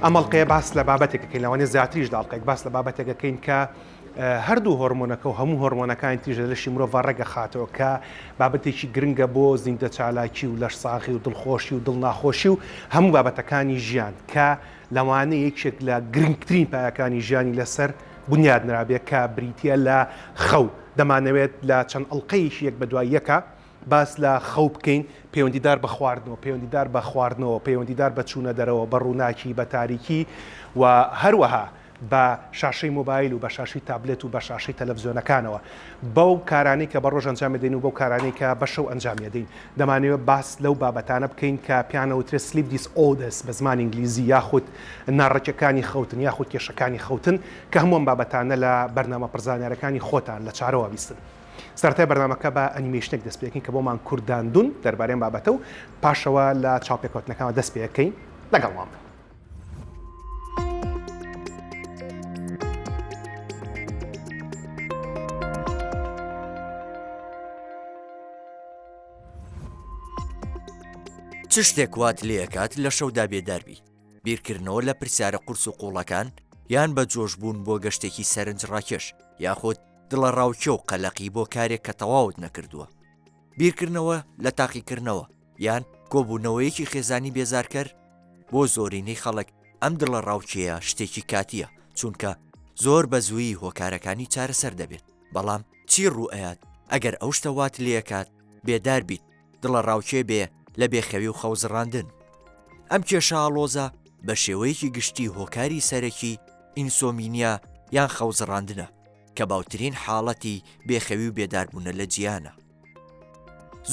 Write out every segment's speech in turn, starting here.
ئەم ئەڵلقەیە باس لە بابەتێکەکەین لەوانێ زیاتریش داڵقێک باس لە بابەتێکەکەین کە هەردوو هۆرمۆنەکە و هەموو هۆرمۆنەکانی تیژە لەشی مرۆڤ ڕێگە خاتەوە کە بابەتێکی گرنگە بۆ زیندە چالاکی و لەش ساغی و دڵخۆشی و دڵ ناخۆشی و هەموو بابەتەکانی ژیان کە لەوانە یەکێک لە گرنگترین پایەکانی ژیانی لەسەر بنیاد نرابێت کە بریتە لە خەو دەمانەوێت لە چەند ئەڵلقەیەکی یەک بە دوای یەکە باس لە خەو بکەین، پەیوەندیدار بە خواردنەوە، پەیوەندیدار بە خواردنەوە، پەیوەندیدار بە چوونە دەرەوە، بە ڕووناکی، بە تاریکی و هەروەها بە شاشەی مۆبایل و بە شاشەی تابلێت و بە شاشەی تەلەفزیۆنەکانەوە، بەو کارانەی کە بە ڕۆژ ئەنجام ئەدەین و بەو کارانەی کە بە شەو ئەنجامی ئەدەین. دەمانەوێت باس لەو بابەتانە بکەین کە پێیان ئەوترێت Sleep Disorders بە زمانی ئینگلیزی یاخود ناڕێکیەکانی خەوتن یاخود کێشەکانی خەوتن کە هەموو ئەم بابەتانە لە بەرنامە پڕزانیارەکانی خۆتان لە چارەوە بیستن. سەرەتای بەرنامەکە بە ئەنیمەیشنێک دەست پێکەین کە بۆمان کورت داندون دەربارەی ئەم بابەتە و پاشەوە لە چاوپێکەوتنەکانەوە دەست پێکەین لەگەڵمان بن. چ شتێک وات لێ ئەکات لە شەودا بێدار بی؟ بیرکردنەوە لە پرسیارە قورس و قوڵەکان، یان بە جۆش بوون بۆ گەشتێکی سەرنجڕاکێش، یاخود دڵەڕاوکێ و قەلەقی بۆ کارێک کە تەواوت نەکردووە. بیرکردنەوە لە تاقیکردنەوە، یان کۆبوونەوەیەکی خێزانی بێزارکەر، بۆ زۆرینەی خەڵک ئەم دڵەڕاوکێیە شتێکی کاتییە، چونکە زۆر بە زوویی هۆکارەکانی چارەسەر دەبێت. بەڵام چی ڕووئەیات ئەگەر ئەو شتە وات لێکات بێدار بیت، دڵەڕاوکێ بێ لە بێخەوی و خەوزڕاندن. ئەم کێشە ئاڵۆزە بە شێوەیەکی گشتی هۆکاری سەرەکی ئینسۆمینیا یان خەوزڕاندنە کە باوترین حاڵەتی بێخەوی و بێداربوونە لە جیهانە.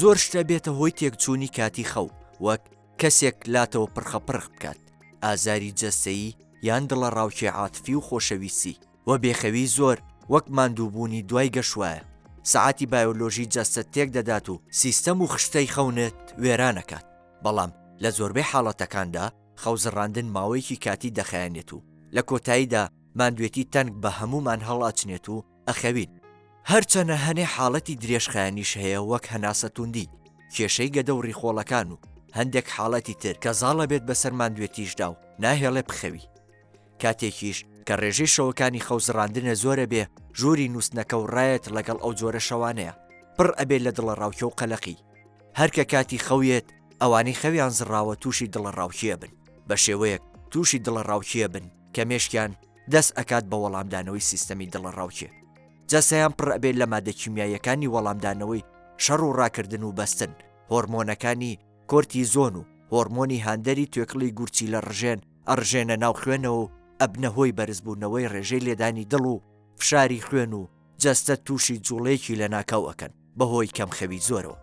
زۆر شتە بێتە هۆی تێکچوونی کاتی خەو وەک کەسێک لاتەوە پرخەپرخ بکات، ئازاری جەستەیی یان دڵەڕاوکێ عاتفی و خۆشەویستی. و بێخەویی زۆر وەک ماندووبوونی دوای گەشوایە، سەعاتی بایۆلۆژی جەستەت تێکدەدات و سیستەم و خشتەی خەونت وێرانەکات، بەڵام لە زۆربەی حاڵەتەکاندا خەوزڕاندن ماوەیەکی کاتی دەخایەنێت و لە کۆتاییدا ماندوێتی تەنک بە هەموومان هەڵئەچنێت و ئەخەوین، هەرچەنە هەنێ حاڵەتی درێژخایەنیش هەیە وەک هەناسەتوندی، کێشەی گەدە و ڕیخۆڵەکان و هەندێک حاڵەتی تر کە زاڵەبێت بەسەر ماندوێتیشدا و ناهێڵێ بخەوی. کاتێکیش کە ڕێژەی شەوەکانی خەو زڕاندنە زۆرە بێ ژووری نووستنەکە و ڕایەت ڵەگەڵ ئەو جۆرە شەوانەیە پڕ ئەبێ لە دڵەڕاوکێ و قەلەقی. هەر کە کاتی خەو یەت ئەوانەی خەویان زڕاوە تووشی دڵەڕاوکێ بن بە شێوەیەک تووشی دڵەڕاوکێ بن کە مێشکیان دەست ئەکات بە وەڵامدانەوەی سیستەمی دڵەڕاوکێ جەستەیان پڕ ئەبێ لە مادە کیمیاییەکانی وەڵامدانەوەی شەڕ و ڕاکردن و بەستن هۆڕمۆنەکانی کۆرتیزۆن و هۆڕمۆنی هاندەری توێکڵی گورچیلە ڕژێن ئەڕژێنە ناو خوێنەوە و ئەبنە هۆی بەرزبوونەوەی ڕێژەی لێدانی دڵ و فشاری خوێن و جەستەت تووشی جوڵەیەکی لەناکاو ئەکەن بەهۆی کەمخەوی زۆرەوە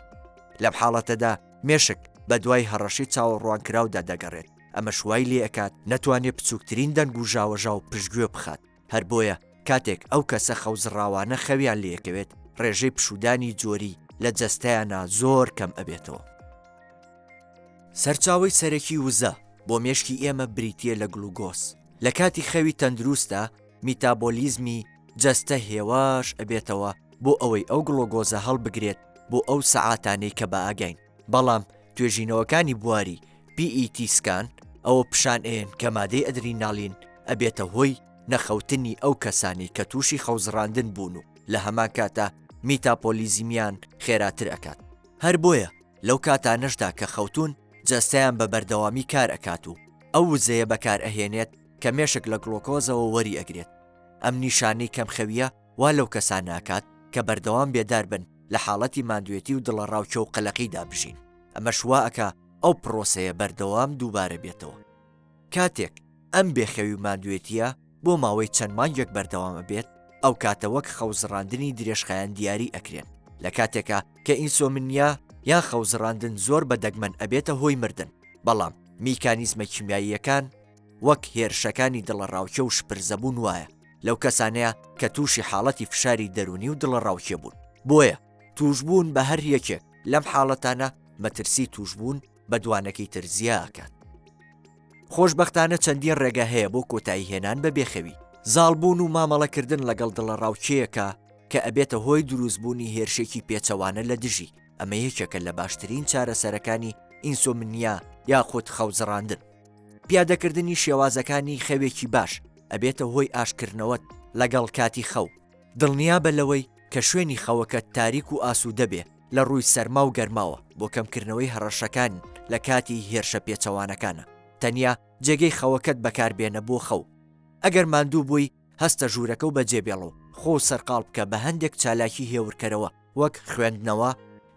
لەم حاڵەتەدا مێشک بەدوای هەڕەشەی چاوەڕوانکراودا دەگەڕێت ئەمەش وای لێ ئەکات نەتوانێت بچووکترین دەنگ و ژاوەژاو پشتگوێ بخات. هەر بۆیە کاتێک ئەو کەسە خەوزڕاوانە خەویان لێکەوێت ڕێژەی پشوودانی جۆری لە جەستەیانا زۆر کەم ئەبێتەوە. سەرچاوەی سەرەکی وزە بۆ مێشکی ئێمە بریتیە لە گلوگۆز، لە کاتی خەوی تەندروستدا میتابۆلیزمی جەستە هێواش ئەبێتەوە بۆ ئەوەی ئەو گڵۆگۆزە هەڵبگرێت بۆ ئەو سەعاتانەی کە بەئاگاین. بەڵام توێژینەوەکانی بواری PET سکان ئەوە پیشان ئەیەن کە مادەی ئەدریناڵین ئەبێتە هۆی نەخەوتنی ئەو کەسانەی کە تووشی خەوزڕاندن بوون و لە هەمان کاتدا میتاپۆلیزمیان خێراتر ئەکات هەر بۆیە لەو کاتانەشدا کە خەوتوون جەستەیان بە بەردەوامی کار ئەکات و ئەو وزەیە بەکار ئەهێنێت کە مێشک لە گڵۆکۆزەوە وەری ئەگرێت ئەم نیشانەی کەمخەوییە وا لەو کەسانە ئەکات کە بەردەوام بێدار بن لە حاڵەتی ماندوێتی و دڵەڕاوکێ و قەلەقیدا بژین، ئەمەش وا ئەکا ئەو پڕۆسەیە بەردەوام دووبارە بێتەوە. کاتێک ئەم بێخەوی و ماندوێتییە بۆ ماوەی چەند مانگێک بەردەوام ئەبێت، ئەو کاتە وەک خەوزڕاندنی درێژخایەن دیاری ئەکرێن، لە کاتێکا کە ئینسۆمنیا یان خەوزڕاندن زۆر بە دەگمەن ئەبێتە هۆی مردن، بەڵام میکانیزمە کیمیاییەکان، وەک هێرشەکانی دڵەڕاوکێ و شپرزەبوون وایە لەو کەسانەیە کە تووشی حاڵەتی فشاری دەروونی و دڵەڕاوکێ بوون بۆیە تووشبوون بە هەر یەکێک لەم حاڵەتانە مەترسی تووشبوون بە دوانەکەی تر زیا ئەکات خۆشببختانە چەندین ڕێگە هەیە بۆ کۆتایی هێنان بە بێخەوی زاڵبوون و مامەڵەکردن لەگەڵ دڵەڕاوکێیەکە کە ئەبێتە هۆی دروستبوونی هێرشێکی پێچەوانە لە دژی ئەمە یەکێکە لە باشترین چارەسەرەکانی ئینسۆمنیا یاخود خەوزڕاندن. پیادەکردنی شێوازەکانی خەوێکی باش ئەبێتە هۆی ئاشتکردنەوەت لەگەڵ کاتی خەو، دڵنیابە لەوەی کە شوێنی خەوەکەت تاریک و ئاسوودە بێ لە ڕووی سەرما و گەرماوە بۆ کەمکردنەوەی هەڕەشەکان لە کاتی هێرشە پێچەوانەکانە، تەنیا جێگەی خەوەکەت بەکاربێنە بۆ خەو ئەگەر ماندوو بووی، هەستە ژوورەکە و بەجێبێڵە و خۆ سەرقاڵ بکە بە هەندێک چالاکی هێورکەرەوە وەک خوێندنەوە،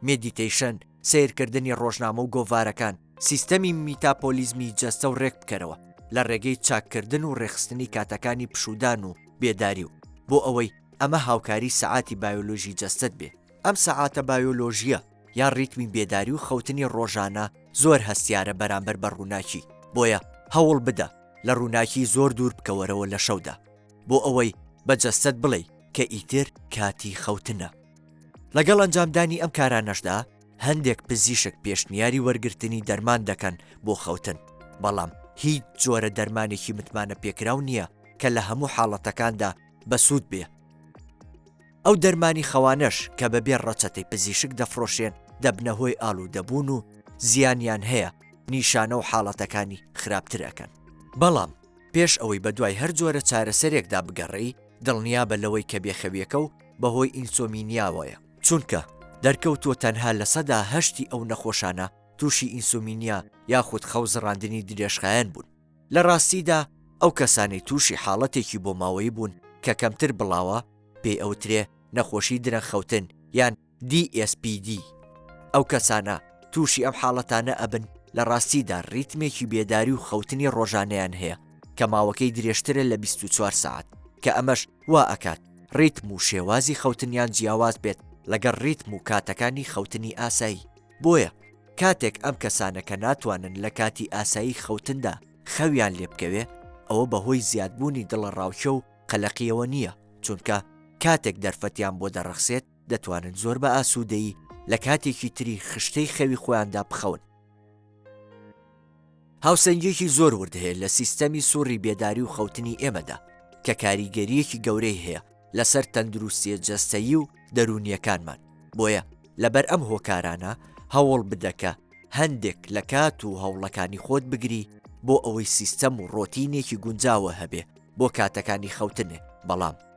مێدیتەیشن، سەیرکردنی ڕۆژنامە و گۆڤارەکان، سیستەمی میتاپۆلیزمی جەستە و ڕێک بکەرەوە لە ڕێگەی چاککردن و ڕێکخستنی کاتەکانی پشوودان و بێداری و بۆ ئەوەی ئەمە هاوکاری سەعاتی بایۆلۆژی جەستەت بێ ئەم سەعاتە بایۆلۆژییە یان ریتمی بێداری و خەوتنی ڕۆژانە زۆر هەستیارە بەرامبەر بە ڕووناکی، بۆیە هەوڵ بدە لە ڕووناکی زۆر دوور بکەوەرەوە لە شەودا بۆ ئەوەی بە جەستەت بڵێی کە ئیتر کاتی خەوتنە. لەگەڵ ئەنجامدانی ئەم کارانەشدا هەندێک پزیشک پێشنیاری وەرگرتنی دەرمان دەکەن بۆ خەوتن، بەڵام هیچ جۆرە دەرمانێکی متمانەپێکراو نییە کە لە هەموو حاڵەتەکاندا بەسوود بێ. ئەو دەرمانی خەوانەش کە بەبێ ڕەچەتەی پزیشک دەفڕۆشرێن دەبنە هۆی ئالوودەبوون و زیانیان هەیە، نیشانە و حاڵەتەکانی خراپتر ئەکەن. بەڵام پێش ئەوەی بەدوای هەر جۆرە چارەسەرێکدا بگەڕێی دڵنیابە لەوەی کە بێخەویەکە و بەهۆی ئینسۆمینیاوەیە، چونکە دەرکەوتووە تەنها لە سەدا هەشتی ئەو نەخۆشانە تووشی ئینسۆمینیا یاخود خەو زڕاندنی درێژخایەن بوون، لە ڕاستیدا ئەو کەسانەی تووشی حاڵەتێکی بۆماوەیی بوون کە کەمتر بڵاوە، پێی ئەوترێ نەخۆشی درەنگخەوتن یان DSPD. ئەو کەسانە تووشی ئەم حاڵەتانە ئەبن لە ڕاستیدا ڕیتمێکی بێداری و خەوتنی ڕۆژانەیان هەیە کە ماوەکەی درێژترە لە بیست و چوار سەعات کە ئەمەش وا ئەکات ڕیتم و شێوازی خەوتنیان جیاواز بێت لەگەڵ ڕیتم و کاتەکانی خەوتنی ئاسایی. بۆیە کاتێک ئەم کەسانە کە ناتوانن لە کاتی ئاسایی خەوتندا خەویان لێ بکەوێ ئەوە بە هۆی زیادبوونی دڵەڕاوکێ و قەلەقییەوە نییە چونکە کاتێک دەرفەتیان بۆ دەڕەخسێت دەتوانن زۆر بە ئاسوودەیی لە کاتێکی تری خشتەی خەوی خۆیاندا بخەون. هاوسەنگییەکی زۆر ورد هەیە لە سیستەمی سوڕی بێداری و خەوتنی ئێمەدا، کە کاریگەرییەکی گەورەی هەیە لەسەر تەندروستییە جەستەیی و دەروونییەکانمان، بۆیە لەبەر ئەم هۆکارانە هەوڵ بدە کە هەندێک لە کات و هەوڵەکانی خۆت بگری بۆ ئەوەی سیستەم و ڕۆتینێکی گونجاوە هەبێ بۆ کاتەکانی خەوتنێ، بەڵام.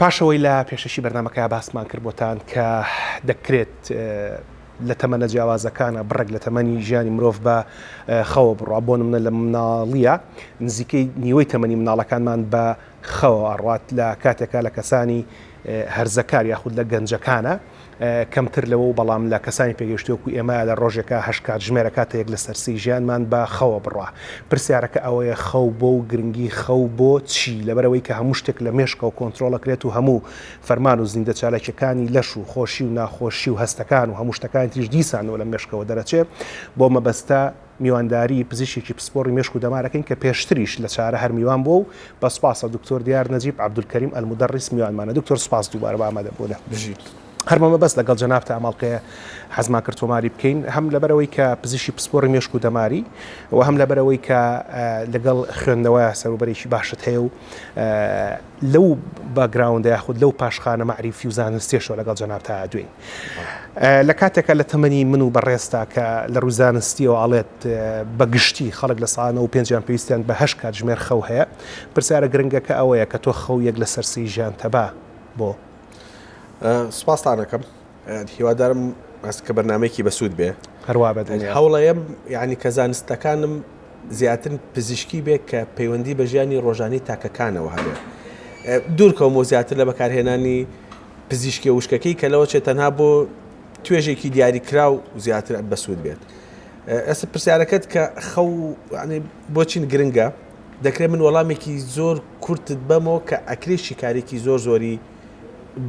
پاش ئەوەی لە پێشەکی بەرنامەکەیا باسمان کرد بۆتان کە دەکرێت لە تەمەنە جیاوازەکانا بڕێک لە تەمەنی ژیانی مرۆڤ بە خەوە بڕوا بۆ نمونە لە مناڵییا نزیکەی نیوەی تەمەنی مناڵەکانمان بە خەوە ئەڕوات لە کاتێکا لە کەسانی هەرزەکار یاخود لە گەنجەکانا کەمتر لەوەو بەڵام لە کەسانی پێگەیشتوو وەکو ئێمە لە ڕۆژێکا هەشت کاتژمێر ئەکاتە یەک لەسەر سێی ژیانمان بە خەوە بڕا پرسیارەکە ئەوەیە خەو بۆ و گرنگی خەو بۆ چی لەبەرئەوەی کە هەموو شتێک لە مێشکەوە کۆنترۆڵ ئەکرێت و هەموو فەرمان و زیندە چالاکیەکانی لەش و خۆشی و ناخۆشی و هەستەکان و هەموو شتەکانی تریش دیسانەوە لە مێشکەوە دەرەچێ بۆ مەبەستە میوانداری پزیشکی پسپۆڕی مێشک و دەمار ئەکەین کە پێشتریش لە چارە هەر میوان بووە و بە سوپاسە دکتۆر دیار نەجیب عەبدولکەریم ئەلمودەڕیس میوانمانە دکتۆر سوپاس دووبارە بۆ ئامادەبوونە. بژیت. هەر بە مەبەست لەگەڵ جەنابتا ئەم ئەڵقەیە حەزمان کرد تۆماری بکەین هەم لەبەرئەوەی کە پزیشکی پسپۆڕی مێشک و دەماری و هەم لەبەرئەوەی کە لەگەڵ خوێندنەوە سەروبەرێکی باشت هەیە و لەو باکگراوندە یاخود لەو پاشخانە مەعریفی و زانستیەشەوە لەگەڵ جەناب تا دوێین لە کاتێکە لە تەمەنی من و بەڕێستا کە لە ڕووی زانستیەوە ئاڵێت بە گشتی خەڵک لە ساانە و پێنجیان پێویستیان بە هەش کات ژمێر خەو هەیە پرسیارە گرنگەکە ئەوەیە کە تۆ خەو یەک لە سەرسی ژیان تەبا بۆ سپاستانەکەم هیوادارم بەس کە بەرنمەیەکی بەسوود بێ هەروە بە هەوڵەیەم یعنی کە زانستەکانم زیاتر پزیشکی بێت کە پەیوەندی بە ژیانی ڕۆژانی تاکەکانەوە هەبێت دوورکەم و زیاتر لە بەکارهێنانی پزیشکی وشکەکەی کە لەوە چێت تەنها بۆ توێژێکی دیاری کرا و زیاتر بەسوود بێت ئەسە پرسیارەکەت کە خەو بۆچین گرنگە دەکرێت من وەڵامێکی زۆر کورتت بەمەوە کە ئەکرێ شیکارێکی زۆر زۆری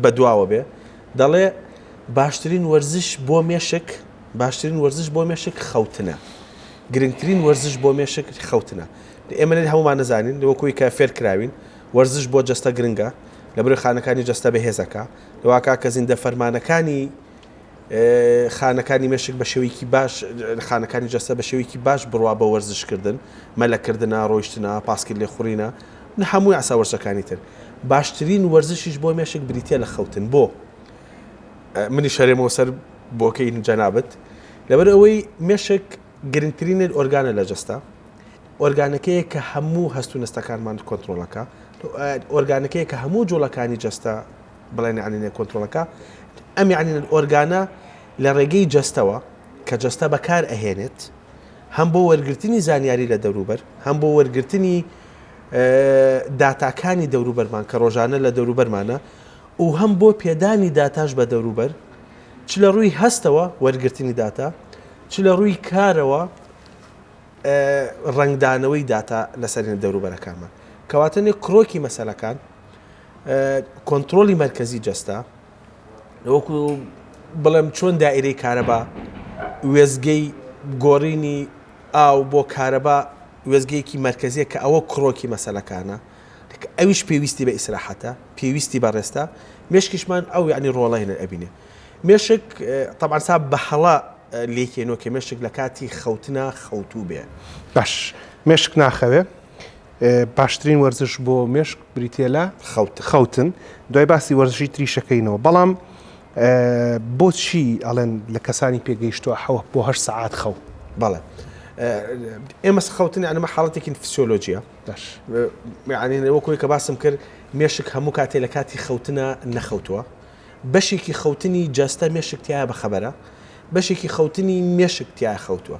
بەدواوە بێ دەڵێ باشترین وەرزش بۆ مێشک باشترین وەرزش بۆ مێشک خەوتنە گرنگترین وەرزش بۆ مێشک خەوتنە ئێمە لێت هەمومان نەزانین وەکوی کە فێر کراوین وەرزش بۆ جەستە گرنگە لە بری خانەکانی جەستە بەهێزەکە لەواکە کە زیندە فەرمانەکانی خانەکانی مێشک بە شێوەیەکی باش خانەکانی جەستە بە شێوەیەکی باش بڕوا بە وەرزشکردن مەلەکردە ڕۆیشتنا پاسکرد لێ خوڕینە نە هەموو یاسا وەرزشەکانی تر. باشترین وەرزشیش بۆ مێشک بریتیە لە خەوتن بۆ منیش هەرێمەوە سەر بۆکەی جەنابت لەبەر ئەوەی مێشک گرنگترینت ئۆرگانە لە جەستە ئۆرگانەکەیە کە هەموو هەست و نستەکانمان کۆنتترۆلەکە ئۆرگانەکەیە کە هەموو جوڵەکانی جەستە بڵێن عنینە کۆنتترۆلەکە ئەم عنینە ئۆرگانە لە ڕێگەی جەستەوە کە جەستە بەکار ئەهێنێت هەم بۆ وەرگرتنی زانیاری لە دەوروبەر هەم بۆ وەرگرتنی داتاکانی دەوروبەرمان کە ڕۆژانە لە دەوروبەرمانە و هەم بۆ پێدانی داتاش بە دەوروبەر چ لە ڕووی هەستەوە وەرگرتنی داتا چ لە ڕووی کارەوە ڕنگدانەوەی داتا لەسەرێن دەوروبەرەکانمان کەواتەێ کرۆکی مەسلەکان کۆنتترۆلی مرکزی جەستا وەکو بڵێم چۆن دائیرەی کارەبا وێزگەی گۆڕینی ئاو بۆ کارەبا وێزگەیەکی مەرکەزیە کە ئەوە کڕۆکی مەسەلەکانە ئەویش پێویستی بە ئیسراحەتە پێویستی بە ڕێستە مشکیشمان ئەو یعنی ڕۆڵین ئەبینێ مێشک طبعا سا بە هەڵا لێکێنەوە کە مێشک لە کاتی خەوتنا خەوتوو بێ باش مێشک ناخەوێ باشترین وەرزش بۆ مێشک بریتە لە خەوتن دوای باسی وەرزشی تریشەکەینەوە بەڵام بۆچی ئەڵێن لە کەسانی پێگەیشتووە حەوە بۆ هەر سعات خەو بەڵێ ئێمە خەوتنی ئەمە حاڵەتێکی فسیۆلۆژیە وەکوی کە باسم کرد مێشک هەموو کاتێ لە کاتی خەوتنە نەخەوتووە بەشێکی خەوتنی جەستە مێشکتیایە بەخەبەرە بەشێکی خەوتنی مێشکتیا خەوتووە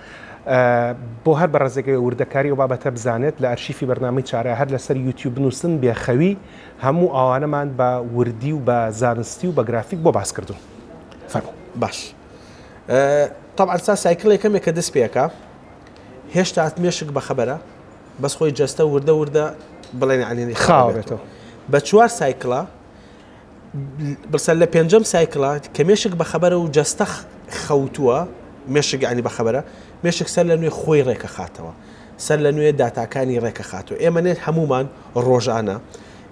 بۆ هەر بەڕێزێک ئەوێ وردەکاری ئەو بابەتە بزانێت لە ئەرشیفی بەرنامەی چارە هەر لەسەر یوتیوب بنووسن بێ خەوی هەموو ئەوانەمان بە وردی و بە زانستی و بە گرافیک بۆ باس کردوون فەرموو باش طبعا سا سایکل یەکەمێک کە دەست پێکە هێشتا مێشک بەخەبەرە بەس خۆی جەستە وردە وردە بڵێن عەلێنی خاوێتەوە بە چوار سایکڵە بڵسە لە پێنجەم سایکڵە کە مێشک بەخەبەرە و جەستە خەوتووە مێشک عنی بەخەبەرە مێشک سەر لە نوێ خۆی ڕێکەخاتەوە سەر لە نوێ داتاکانی ڕێکەخاتەوە ئێمە نێت هەمومان ڕۆژانە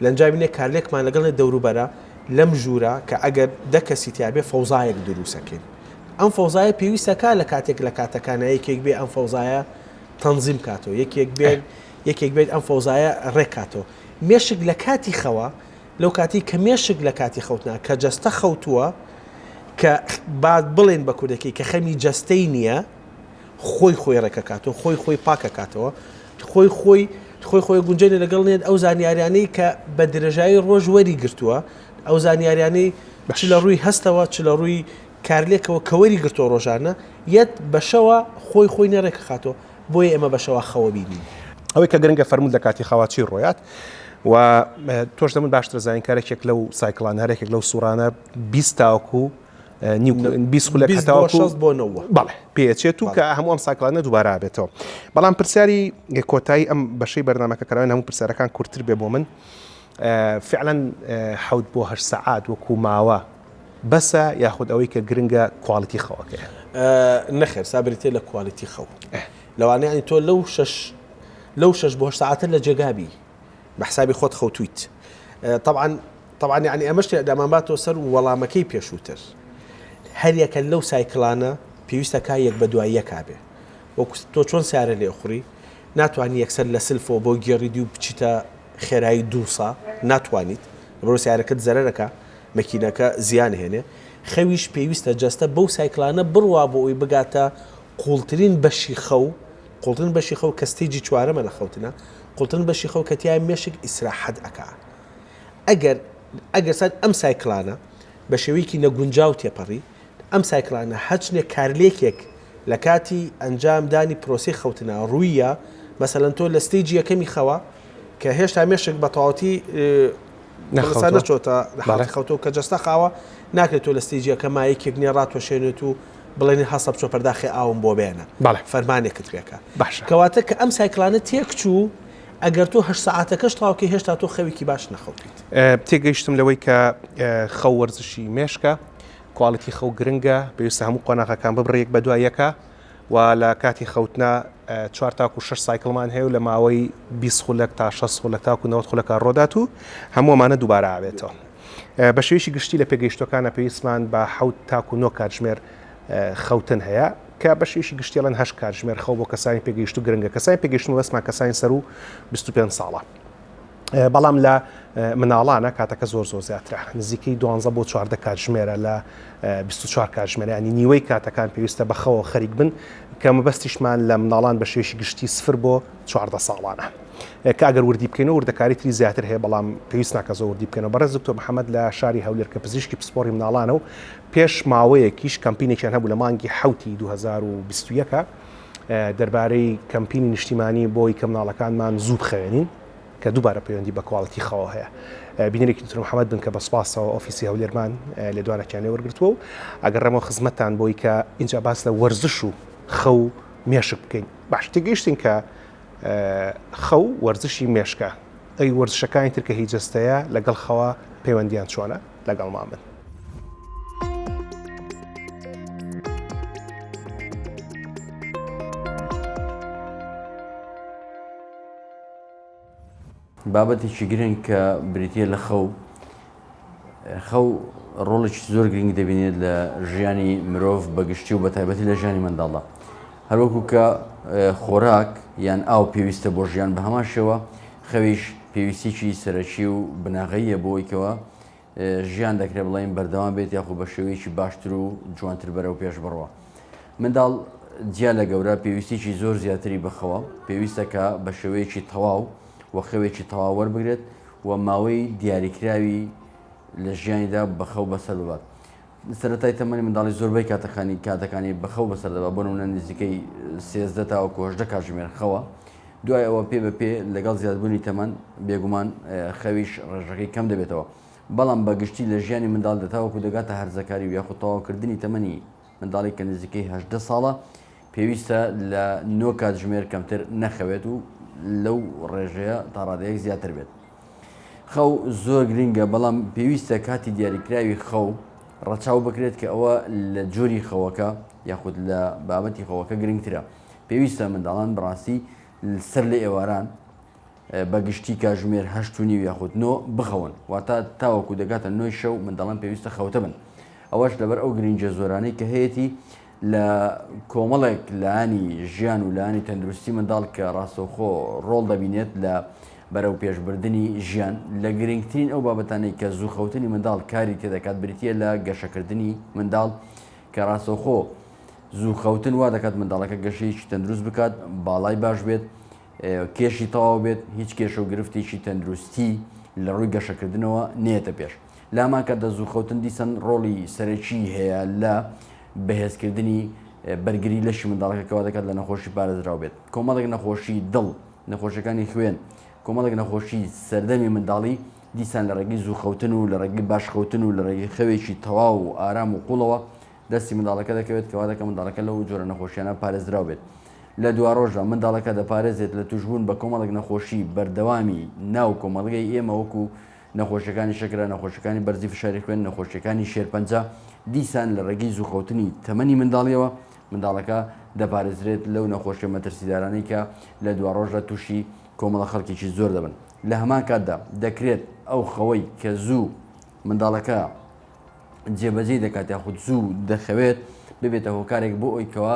لەنجاوینێ کارلێکمان لەگەڵێ دەوروبەرە لەم ژوورە کە ئەگەر دە کەسی تیاابێ فەوزایەک دروسەکەین ئەم فەوزایە پێویستەکە لە کاتێک لە کاتەکانە یەکێک بێ ئەم فەوزایە تەنزیم کاتەوە یەکێک بێت یەکێک بێت ئەم فەوزایە ڕێکاتەوە مێشک لە کاتی خەوە لەو کاتەی کە مێشک لە کاتی خەوتنا کە جەستە خەوتووە کە با بڵێن بە کوردەکەی کە خەمی جەستەی نییە خۆی خۆی ڕێکەکات و خۆی خۆی پاکەکاتەوە خۆی خۆی خۆی خۆی گونجێنە لەگەڵ نێت ئەو زانیاریانەی کە بە درێژایی ڕۆژ وەری گرتووە ئەو زانیاریانەی چ لە ڕووی هەستەوە چ لە ڕووی کارلێکەوە کەوەری گرتۆ ڕۆژانە یەت بەشەوە خۆی خۆی نێڕێکەخاتەوە بۆیە ئێمە بە شەوا خەوە بینین. ئەوەی کە گرنگە فەرموود لە کاتی خەوا چی ڕۆیات و تۆش لەمن باشتر ئەزانیت کە هەرێکێک لەو سایکڵانە هەرێکێک لەو سوڕانە بیست تاوەکو بیست خولەک بیست بۆ هەتاوەکو شەست بۆ نەوە. بەڵێ پێچێت و کە بەڵێ. هەموو ئەم سایکڵانە دووبارە ئابێتەوە بەڵام پرسیاری کۆتایی ئەم بەشەی بەرنامەکە کە ناوێن هەموو پرسیارەکان کورتتر بێ بۆ من فعلەن حەوت بۆ هەشت سەعات وەکو ماوە بەسە یاخود ئەوەی کە گرنگە کوالیتی خەوەکەیە؟ نەخێر سا بریتیە لە کوالیتی خەو لەوانەیە یانی تۆ لەو شەش لەو شەش بۆ هەشت سەعاتە لە جێگابی بە حسابی خۆت خەوتویت طبعا طبعا یعنی ئەمەش تێدامان باتەوە سەر وەڵامەکەی پێشووتر هەریەکە لەو سایکلانە پێویستەکە یەک بە دواییەکە بێ وەکو تۆ چۆن سارە لێخوڕی ناتوانی یەکسەر لە سلفەوە بۆ گێڕی دی و بچیتە خێرایی دوو سە ناتوانیت لەبەرەوە سیارەکەت زەرەرەکە مەکینەکە زیان هێنێ خەویش پێویستە جەستە بەو سایکلانە بڕوا بۆ ئەوی بگاتە قوڵترین بەشی خەو قوڵترین بەشی خەو کە ستەیجی چوارەمە لە خەوتنە قوڵترین بەشی خەو کە تیای مێشک ئیسراحەت ئەکا ئەگەر ئەگەر سەر ئەم سایکلانە بە شێوەیەکی نەگونجاو تێپەڕی ئەم سایکلانە هەرچنێک کارلێکێک لە کاتی ئەنجام دانی پرۆسەی خەوتنە ڕووییە، مەسەلەن تۆ لە ستەیجی یەکەمی خەوە کە هێشتا مێشک بە تەواوەتی نەخەوتوە نەچۆتە لە حاڵەتی خەوتەوە کە جەستە خاوە ناکرێت تۆ لە ستەیجی یەکە مایەکێک نیە ڕاتوەشێنێت و بڵێنی هەستە بچۆ پەرداخی ئاوم بۆ بێنە فەرمانێکت پێکە باشە کەواتە کە ئەم سایکلانە تێکچوو ئەگەر تۆ هەشت سەعاتەکەش تاوکە هێشتا تۆ خەوێکی باش نەخەوتیت تێگەیشتم لەوەی کە خەو وەرزشی مێشکە کوالیتی خەو گرنگە، پێویستە هەموو قۆناغەکان ببڕی یەک بەدوای یەکە و لە کاتی خەوتنا چوار تاکو شەش سایکڵمان هەیە و لە ماوەی بیست خولەک تا شەست خولەک تاکو نەوەد خولەکە ڕۆدات و هەموو ئەمانە دووبارە ئاوێتەوە. بە شێوەیەکی گشتی لە پێگەیشتووەکانا پێویستمان بە حەوت تاکو نۆ کاتژمێر خەوتن هەیە کە بە شێوەیەکی گشتی ئەڵێن هەشت کاتژمێر خەو بۆ کەسانی پێگەیشتوو گرنگە، کەسانی پێگەیشتوو مەبەستمان کەسانی سەروو بیست و پێنج ساڵە. بەڵام لە مناڵانە کاتەکە زۆر زۆر زیاترە نزیکەی دوانزە بۆ چواردە کاتژمێرە لە 24 کاتژمێرانی نیوەی کاتەکان پێویستە بەخەوە خەریک بن کە مەبەستیشمان لە مناڵان بە شێشی گشتی سفر بۆ چواردە ساڵانە کاگەر وردی بکەین و وردەکاری تری زیاتر هەیە بەڵام پێویست ناکە زۆر وردی بکەنەوە بەڕێز دکتۆر محەممەد لە شاری هەولێر کە پزیشکی پسپۆری مناڵانە و پێش ماوەیەکیش کەمپینێکیان هەبوو لە مانگی حوتی 2021 دەربارەی کەمپینی نیشتیمانی بۆی کە مناڵەکانمان زوو بخەوێنین کە دووبارە پەیوەندی بە کواڵیتی خەوەوە هەیە. بینەرێکی دکتۆر محەمەد بن کە بە سوپاسەوە ئۆفیسی هەولێرمان لێدوانەکیان لێ وەرگرتووە و ئەگەڕێمەوە خزمەتتان بۆی کە ئینجا باس لە وەرزش و خەو و مێشک بکەین. باش تێگەیشتین کە خەو وەرزشی مێشکە. ئەی وەرزشەکانی تر کە هی جەستەیە لەگەڵ خەوە پەیوەندیان چۆنە؟ لەگەڵمان بن. بابەتێکی گرنگ کە بریتە لە خەو خەو ڕۆڵێکی زۆر گرنگ دەبینێت لە ژیانی مرۆڤ بەگشتی و بە تایبەتی لە ژیانی منداڵدا هەروەکو کە خۆراک یان ئاو پێویستە بۆ ژیان بە هەمان شێوە خەویش پێویستیی سەرەکی و بناغەیە بۆیکەوە ژیان دەکرێت بڵێین بەردەوام بێت یاخو بە شێوەیەکی باشتر و جوانتر بەرەو پێش بڕوە منداڵ جیا لە گەورە پێویستێکی زۆر زیاتری بخەوە پێویستەکە بە شێوەیەکی تەواو و خەوێکی تەواو وەربگرێت و ماوەی دیاریکراوی لە ژیانیدا بەخەو بەسەر ببات سەرەتای تەمەنی منداڵی زۆربەی کاتەکانی کاتەکانی بە خەو بەسەر دەبات، بۆ نموونە نزیکەی سێزدە تاوەکو هەژدە کاتژمێر خەوە، دوای ئەوە پێ بە پێ لەگەڵ زیادبوونی تەمەن بێگومان خەویش ڕێژەکەی کەم دەبێتەوە، بەڵام بە گشتی لە ژیانی منداڵدا تاوەکو دەگاتە هەرزەکاری و یاخود تەواوکردنی تەمەنی منداڵی کە نزیکەی هەژدە ساڵە، پێویستە لە نۆ کاتژمێر کەمتر نەخەوێت و لەو ڕێژەیە تا ڕادەیەک زیاتر بێت. خەو زۆر گرنگە بەڵام پێویستە کاتی دیاریکراوی خەو ڕەچاو بکرێت کە ئەوە لە جۆری خەوەکە یاخود لە بابەتی خەوەکە گرنگترە. پێویستە منداڵان بەڕاستی سەر لە ئێواران بە گشتی کاژمێر هەشت و نیو یاخود نۆ بخەون واتە تاوەکو دەگاتە نۆی شەو منداڵان پێویستە خەوتە بن ئەوەش لەبەر ئەو گرنجە زۆرانەی کە هەیەی لە کۆمەڵێک لایەنی ژیان و لایەنی تەندروستی منداڵ کە ڕاستەوخۆ ڕۆڵ دەبینێت لە بەرەو پێشبردنی ژیان لە گرنگترین ئەو بابەتانەی کە زووخەوتنی منداڵ کاری تێدەکات بریتە لە گەشەکردنی منداڵ کە ڕاستەوخۆ زوو خەوتن وا دەکات منداڵەکە گەشەیەکی تەندروست بکات باڵای باش بێت کێشی تەواو بێت هیچ کێشە و گرفتێکی تەندروستی لە ڕووی گەشەکردنەوە نێتە پێش لامان کە دەزووخەوتن دیسان ڕۆڵی سەرەکی هەیە لە بەهێزکردنی بەرگری لەشی منداڵەکە کەوا دەکات لە نەخۆشی پارێزراو بێت کۆمەڵێک نەخۆشی دڵ نەخۆشەکانی خوێن کۆمەڵێک نەخۆشی سەردەمی منداڵی دیسان لە ڕێگەی زووخەوتن و لە ڕێگەی باشخەوتن و لە ڕێگەی خەوێکی تەواو و ئارام و قوڵەوە دەستی منداڵەکە دەکەوێت کەوا دەکە منداڵەکە لەو جۆرە نەخۆشیانە پارێزراو بێت لە دوواڕۆژە منداڵەکە دەپارێزێت لە توشبوون بە کۆمەڵک نەخۆشی بەردەوامی ناو کۆمەڵگەی ئێمە وەکو نەخۆشیەکانی شەکرە، نەخۆشیەکانی بەرزی فشاری خوێن، نەخۆشیەکانی شێرپەنجە، دیسان لە ڕێگەی زووکەوتنی تەمەنی منداڵیەوە منداڵەکە دەپارێزرێت لەو نەخۆشیە مەترسیدارانەی کە لە دواڕۆژدا تووشی کۆمەڵە خەڵکێکی زۆر دەبن لە هەمان کاتدا دەکرێت ئەو خەوەی کە زوو منداڵەکە جێبەجێی دەکات یاخود زوو دەخەوێت ببێتە هۆکارێک بۆ ئەوی کەوا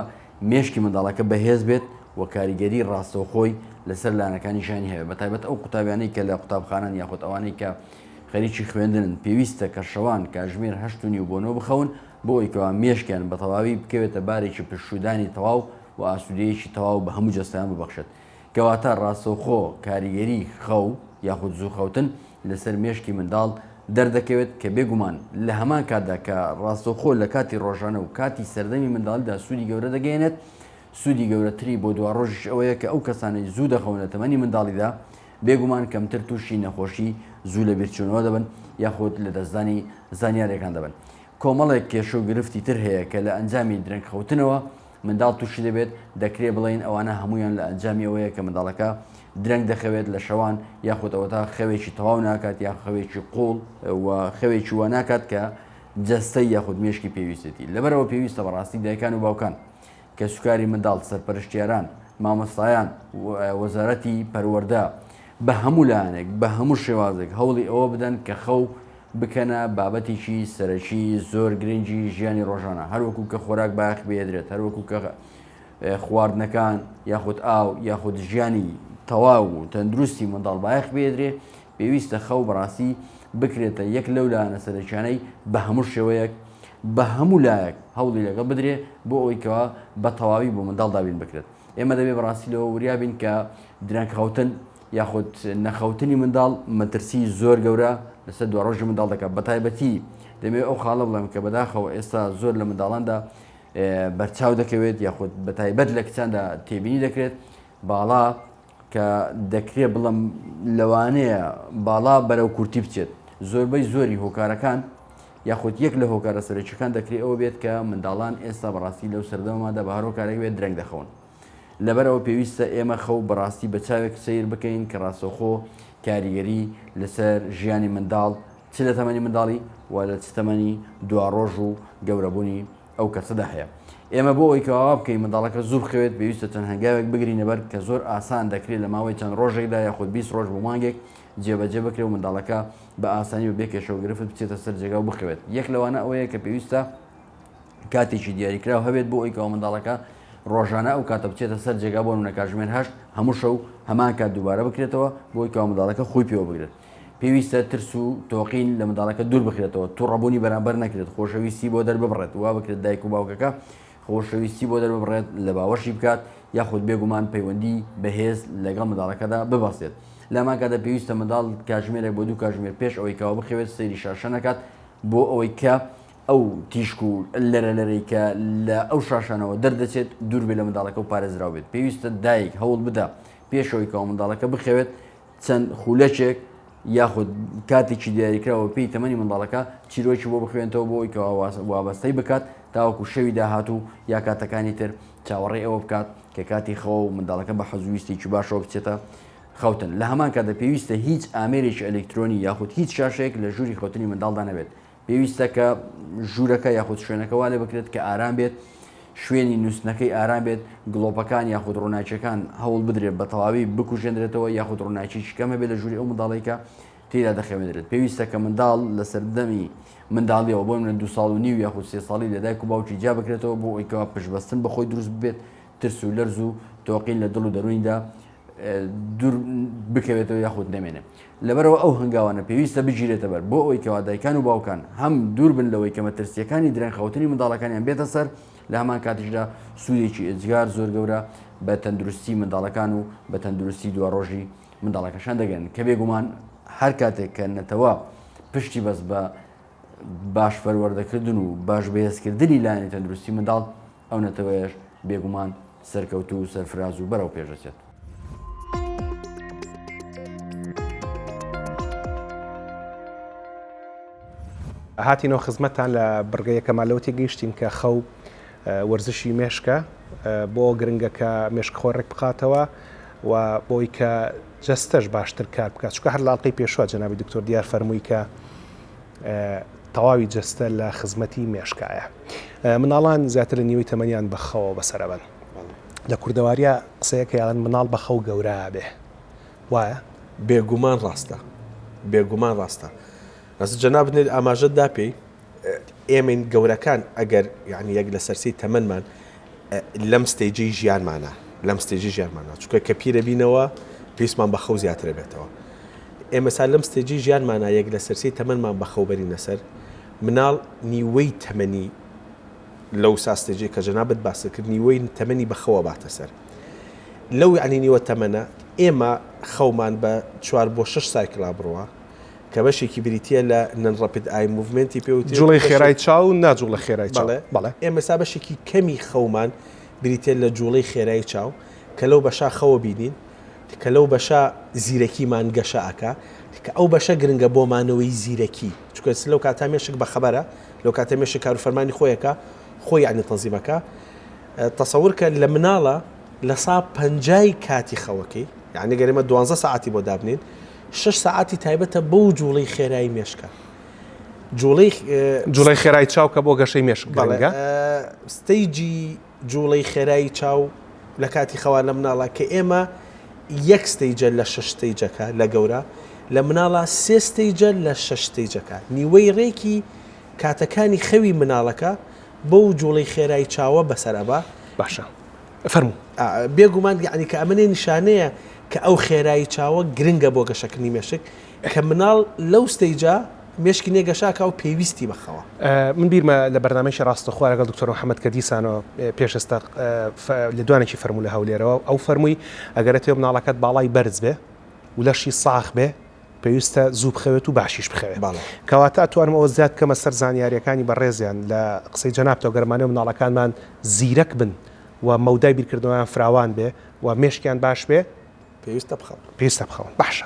مێشکی منداڵەکە بەهێز بێت و کاریگەری ڕاستەوخۆی لەسەر لایەنەکانی ژیانی هەیە بە تایبەت ئەو قوتابیانەی کە لە قوتابخانان یاخود ئەوانەی کە خەریکی خوێندنن پێویستە کە شەوان کاژمێر هەشتنی و بۆنەوە بخەون بۆ ئەویکەوە مێشکیان بە تەواوی بکەوێتە بارێکی پشودانی تەواو و ئاسوودەیەکی تەواو بە هەموو جەستەیان ببەخشێت کەواتە ڕاستەوخۆ کاریگەری خەو یاخود زوو خەوتن لەسەر مێشکی منداڵ دەردەکەوێت کە بێگومان لە هەمان کاتدا کە ڕاستەوخۆ لە کاتی ڕۆژانە و کاتی سەردەمی منداڵیدا سوودی گەورە دەگەیەنێت سوودی گەورەتری بۆ دوا ڕۆژیش ئەوەیە کە ئەو کەسانەی زوو دەخەون لە تەمەنی منداڵیدا بێگومان کەمتر تووشی نەخۆشی زوو لە بیرچوونەوە دەبن یاخود لە دەستدانی زانیارەکان دەبن کۆمەڵێک کێشە و گرفتی تر هەیە کە لە ئەنجامی درەنگ خەوتنەوە منداڵ تووشی دەبێت، دەکرێت بڵێین ئەوانە هەموویان لە ئەنجامی ئەوەیە کە منداڵەکە درەنگ دەخەوێت لە شەوان یاخود ئەوەتا خەوێکی تەواو ناکات یا خەوێکی قوڵ و خەوێکی وە ناکات کە جەستەی یاخود مێشکی پێویستێتی لەبەرەوە پێویستە بەڕاستی دایکان و باوکان کە سوکاری منداڵ سەرپەرشتیاران مامۆستایان وەزارەتی پەروەەردە بە هەموو لایەنێک بە هەموو شێوازێک هەوڵی ئەوە بدەن کە خەو بکەنە بابەتێکی سەرەکی زۆر گرنگی ژیانی ڕۆژانە هەروەکو کە خۆراک باخ بێدرێت هەروەکو کە خواردنەکان یاخود ئاو یاخود ژیانی تەواو و تەندروستی منداڵ بایەخ بێدرێ پێویستە خەو بەڕاستی بکرێتە یەک لەو لاەنە سەرەکیانەی بە هەموو شێوەیەک بە هەموو لایەک هەوڵی لەگەڵ بدرێ بۆ ئەویکەوە بە تەواوی بۆ منداڵ دابین بکرێت ئێمە دەبێ بەڕاستی لەوە وریابین کە درەنگ خەوتن یاخود نەخەوتنی منداڵ مەترسی زۆر گەورە لەسەر دوڕۆژی منداڵ دەکات بەتایبەتی دەمێ ئەو خاڵە بڵێم کە بەداخەوە ئێستا زۆر لە منداڵاندا بەرچاو دەکەوێت یاخود بەتایبەت لە کچاندا تێبینی دەکرێت باڵا کە دەکرێت بڵم لەوانەیە باڵا بەرەو کورتی بچێت زۆربەی زۆری هۆکارەکان یاخود یەک لە هۆکارە سەرەکیەکان دەکرێت ئەوە بێت کە منداڵان ئێستا بەڕاستی لەو سەردەمەدا بە هەرۆکارێک بێت درەنگ دەخەون لەبەرئەوە پێویستە ئێمە خەو بەڕاستی بە چاوێک سەیر بکەین کە ڕاستەوخۆ کاریگەری لەسەر ژیانی منداڵ چ لە تەمەنی منداڵی و لە چ تەمەنی دواڕۆژ و گەورەبوونی ئەو کەسەدا هەیە ئێمە بۆ ئەوی کەوا بکەین منداڵەکە زوو بخەوێت پێویستە چەند هەنگاوێک بگرینەبەر کە زۆر ئاسان دەکرێت لە ماوەی چەند ڕۆژێکدا یاخود 20 ڕۆژ بۆ مانگێک جێبەجێ بکرێت و منداڵەکە بە ئاسانی و بێکێشەوە گرفت بچێتە سەر جێگا و بخەوێت یەک لەوانە ئەوەیە کە پێویستە کاتێکی دیاریکراو هەبێت بۆ ئەوی کەەوە منداڵەکە ڕۆژانە ئەو کاتە بچێتە سەر جێگا بۆ منە کاژمێر هەشت هەموو شەو هەمان کات دووبارە بکرێتەوە بۆی کەەوە منداڵەکە خۆی پێوە بگرێت پێویستە ترس و تۆقین لە منداڵەکە دوور بخرێتەوە تو ڕەبوونی بەرامبەر نەکرێت خۆشەویستی بۆ دەرببڕێت وا بکرێت دایک و باوکەکە خۆشەویستی بۆ دەرببڕێت لە باوەشی بکات یاخود بێگومان پەیوەندی بەهێز لەگەڵ منداڵەکەدا ببەستێت لەماکەدا پێویستە منداڵ کاژمێرێک بۆ دوو کاژمێر پێش ئەوەی کاوە بخەوێت سەیری شاشە نەکات بۆ ئەوەی کە ئەو تیشک و لەرە لەرەی کە لە ئەو شاشانەوە دەردەچێت دوور بێ لە منداڵەکە و پارێزراو بێت پێویستە دایک هەوڵ بدا پێشەوەی کەەوە منداڵەکە بخەوێت چەند خولەچێک یاخود کاتێکی دیاریکراوە پێی تەمەنی منداڵەکە چیرۆکی بۆ بخوێنەوە بۆ ئەوی کەوا وابەستەی بکات تاوەکو شەوی داهات و یا کاتەکانی تر چاوەڕێ ئەوە بکات کە کاتی خەوە و منداڵەکە بە حەزویستێکی باشەوە بچێتە خەوتن لە هەمان کاتە پێویستە هیچ ئامێرێکی ئەلکترۆنی یاخود هیچ شاشێک لە ژووری خەوتنی منداڵدا نەبێت پێویستە کە ژوورەکە یاخود شوێنەکە وا لێ بکرێت کە ئارام بێت شوێنی نووسنەکەی ئارام بێت گڵۆپەکان یاخود ڕووناکیەکان هەوڵ بدرێت بە تەواوی بکوژێنرێتەوە یاخود ڕووناکی شکەمە بێت لە ژووری ئەو منداڵێکە تێدا دەخەوێنرێت پێویستە کە منداڵ لە سەردەمی منداڵیەوە بۆ منە دو ساڵ و نیو یاخود سێ ساڵی لە دایک و باوکی جیا بکرێتەوە بۆ ئەویکەوە پشبەستن بەخۆی دروست بێت ترس و لەرز و تۆقین لە دڵ و دەرویندا دوور بکەوێتەوە یاخود نەمێنێ لەبەرەوە ئەو هەنگاوانە پێویستە بگیرێتە بەر بۆ ئەوەی کەوا دایکان و باوکان هەم دوور بن لەوەی کەمە ترسیەکانی درەنخەوتنی منداڵەکانیان بێتە سەر لە هەمان کاتیشدا سوودێکی ئێجگار زۆر گەورە بە تەندروستی منداڵەکان و بە تەندروستی دو ڕۆژی منداڵەکەشان دەگەن کە بێگومان هەر کاتێک کە نەتەوە پشتی بەس بە باش پەروەردەکردن و باش بەهێزکردنی لایەنی تەندروستی منداڵ ئەو نەتەوەیەش بێگومان سەرکەوتوو و سەرفراز و بەرەو پێش ئەچێت. هاتینەوە خزمەتتان لە بڕگە یەکەما لەوە تێگەیشتین کە خەو وەرزشی مێشکە بۆ ئەوە گرنگە کە مێشک خۆی ڕێک بخاتەوە و بۆی کە جەستەش باشتر کار بکات چکە هەر لاڵقەی پێشوە جەنابی دکتۆر دیار فەرمووی کە تەواوی جەستە لە خزمەتی مێشکایە مناڵان زیاتر لە نیوەی تەمەنیان بەخەوە بەسەرەبن لە کوردەواریە قسەیەکە یاڵن مناڵ بەخەو گەورە بێ وایە بێگومان ڕاستە بێگومان ڕاستە ئەس جەنا بنێت ئاماژەت دا پێی ئێمەین گەورەکان ئەگەر یعنی یەک لە سەرسی تەمەمان لەم ستەیجەی ژیانمانە لەم ستەیجەی ژیانمانە چونکە کە پیرە بینەوە پێویستمان بە خەو زیاتر بێتەوە ئێمە سا لەم ستەیجەی ژیانمانە یەک لە سەرسی تەمەمان بە خەوبەرینە سەر مناڵ نیوەی تەمەنی لەو ساستێجێ کە جەنابەت باسەکرد نیوەی تەمەنی بەخەوە باتە سەر لەو عنی نیوە تەمەە ئێمە خەومان بە چوار بۆ شش سایکلا بڕوە کە بەشێکی بریتییە لە نن ڕەپید ئای موڤمێنتی پێ وترێت. جوڵەی خێرای چاو نا جوڵە خێرای چاو. بەڵێ بەڵێ. ئێمە سا بەشێکی کەمی خەومان بریتییە لە جوڵەی خێرای چاو کە لەو بەشە خەوە بینین کە لەو بەشە زیرەکیمان گەشە ئەکا کە ئەو بەشە گرنگە بۆ مانەوەی زیرەکی چونکە لەو کاتا مێشک بە خەبەرە لەو کاتە مێشک کار و فەرمانی خۆی ئەکا خۆی یەعنی تەنزیم ئەکا تەسەور کە لە مناڵە لە سا پەنجای کاتی خەوەکەی یەعنی گەر ئێمە دوانزە سەعاتی بۆ دابنێین شەش سەعاتی تایبەتە بۆ جوڵەی خێرایی مێشکە. جوڵەی جوڵەی خێرای چاو کە بۆ گەشەی مێشک گەڵگە ستەیجی جوڵەی خێرایی چاو لە کاتی خەوا لە مناڵە کە ئێمە یەک ستەیجە لە شش ستەیجەکە لە گەورە لە مناڵە سێ ستەیجە لە شش ستەیجەکە نیوەی ڕێکی کاتەکانی خەوی مناڵەکە بۆ جوڵەی خێرای چاوە بەسەر ئەبا باشە فەرموو. بێ گومان یەعنی کە ئەمەێ نیشانەیە کە ئەو خێرایی چاوە گرنگە بۆ گەشەکردنی مێشک کە مناڵ لەو ستەیجە مێشکی نێ گەشاکە و پێویستی بە خەوە. من بیرمە لە بەرنامەیەکی ڕاستەخۆ لەگەڵ دکتۆر محەمەد کە دیسانەوە پێش ئێستا لێدوانێکی فەرموو لە هەولێرەوە ئەو فەرمووی ئەگەر ئەتەوێ مناڵەکەت باڵای بەرز بێ و لەشی ساخ بێ پێویستە زوو بخەوێت و باشیش بخەوێت. بەڵێ. کەواتە ئەتوانم ئەوە زیاد بکەمە سەر زانیارییەکانی بەڕێزیان لە قسەی جەنابتەوە گەر ئەمانەی منداڵەکانمان زیرەک بن و مەودای بیرکردنەوەیان فراوان بێ و مێشکیان باش بێ، پێویستە بخەون. پێویستە بخەون. باشە.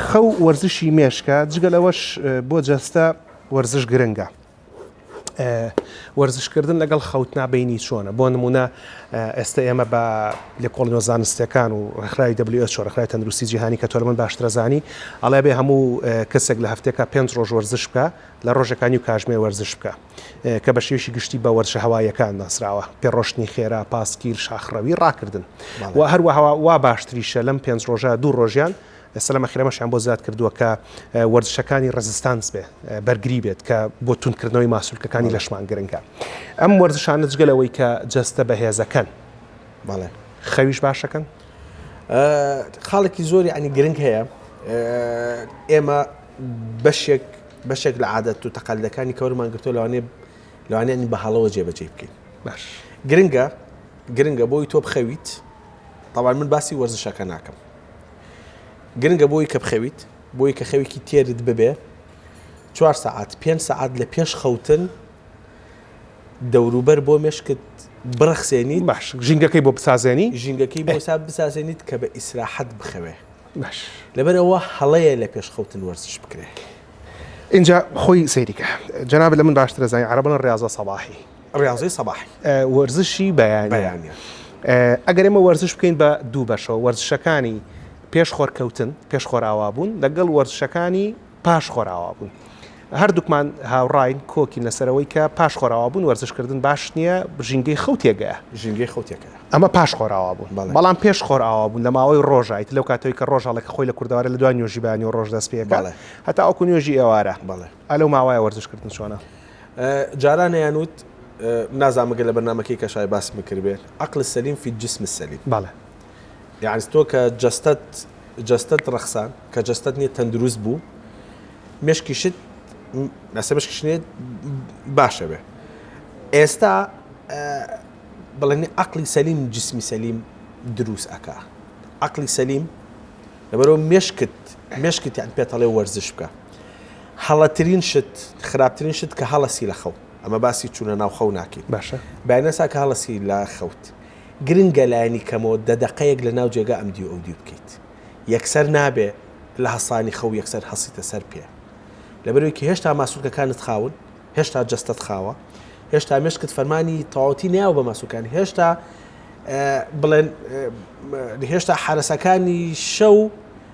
خەو و وەرزشی مێشکە، جگە لەوەش بۆ جەستە وەرزش گرنگە. وەرزش کردن لەگەڵ خەوتنا بەینی چۆنە بۆ نمونە ئێستا ئێمە بە لێکۆڵینەوە زانستیەکان و ڕخراوی WHO ڕخراوی تەندروستی جیهانی کە تۆرمن باشترەزانی ئەڵێ بێ هەموو کەسێک لە هەفتێکا پێنج ڕۆژ وەرزش بکە لە ڕۆژەکانی و کاژمێر وەرزش بکە کە بە شێوشی گشتی بە وەرشە هەوایەکان ناسراوە پێ ڕۆشتنی خێرا پاسکیل شاخڕەوی ڕاکردن و هەروەهەوا وا باشتریشە لەم پێنج ڕۆژە دوو ڕۆژیان سەلامە خێرەمەشیان بۆ زیاد کردووە کە وەرزشەکانی ڕێزستانس بێ بەرگری بێت کە بۆ توندکردنەوەی ماسولکەکانی لەشمان گرنگە ئەم وەرزشانە جگە لەوەی کە جەستە بەهێزەکەن بەڵێ خەویش باشەکەن خاڵێکی زۆری ئەنی گرنگ هەیە ئێمە بەشێک بەشێک لە عادەت و تەقالەکانی کەورمان گرتو لەوانێ لەوانێن بە هەڵەوە جێبەجێ بکەین باش گرنگە گرنگە بۆی تۆ بخەویت تاوان من باسی وەرزشەکە ناکەم گرنگە بۆی کە بخەویت بۆی کە خەوێکی تێرت ببێ چوار سەعات پێنج سەعات لە پێش خەوتن دەوروبەر بۆ مێشکت بڕەخسێنی باش ژینگەکەی بۆ بسازێنی ژینگەکەی بۆ ساب بسازێنیت کە بە ئیسراحەت بخەوێ باش لەبەرەوە هەڵەیە لە پێش خەوتن وەرزش بکرێ. ئینجا خۆی سەیری کە جەنابت لە من باشترە زانی عەرەبەڵن ڕیازە سەباحی. ڕیاضەی سەباحی. وەرزشی بەیانیان. ئەگەر ئێمە وەرزش بکەین بە دوو بەشەوە، وەرزشەکانی پێش خۆرکەوتن، پێش خۆرئاوابوون، لەگەڵ وەرزشەکانی پاش خۆرئاوابوون. هەردووکمان هاوڕاین، کۆکین لەسەر ئەوەی کە پاش خۆرئاوابوون وەرزشکردن باش نییە، ژینگەی خەو تێکدەیە. ژینگەی خەو تێکدەیە. ئەمە پاش خۆرئاوابوون. بەڵێ. بەڵام پێش خۆرئاوابوون، لە ماوەی ڕۆژە، ئیتر لەو کاتەوەی کە ڕۆژ هەڵێ، کە خۆی لە کوردەواری لە دوای نوێژی بەیانی و ڕۆژ دەست پێ ئەکا. بەڵێ. هەتاوەکو نوێژی ئێوارە. بەڵێ. ئا لەو ماوەیە وەرزش کردن چۆنە؟ جاران ئەیانوت نازانم مەگەر لە بەرنامەکەی کەشای باسم کردبێت عقل السلیم فی الجسم السلیم بەڵێ یعنی تۆ کە جەستەت جەستەت ڕەخسان کە جەستەت نییە تەندروست بوو مشکیشت ناسە مشکشنێت باشە بێ ئێستا بڵێنی عقلی سەلیم جسمی سەلیم دروست ئەکا عقلی سەلیم لەبەرەوە مشکت مشکت یان پێتەڵێ وەرزش بکە هەڵەترین شت خراپترین شت کە هەڵەسی لە خەو ئەمە باسی چوونە ناو خەو ناکەین باشە بەێنەسا کە هەڵەسی لە خەوت گرنگە لایەنی کەمەوە دە دقەیەک لە ناو جێگا ئەم دیو ئەو دیو بکەیت یەکسەر نابێ لە هەسانی خەو یەکسەر هەسیتە سەر پێ لەبەرێکی هێشتا ماسوولکەکانت خاون هێشتا جستت خاوە هێشتا مشکت فەرمانی تەواوتی ناو بە ماسوولکان هێشتا بڵێن هێشتا حرەسەکانی شەو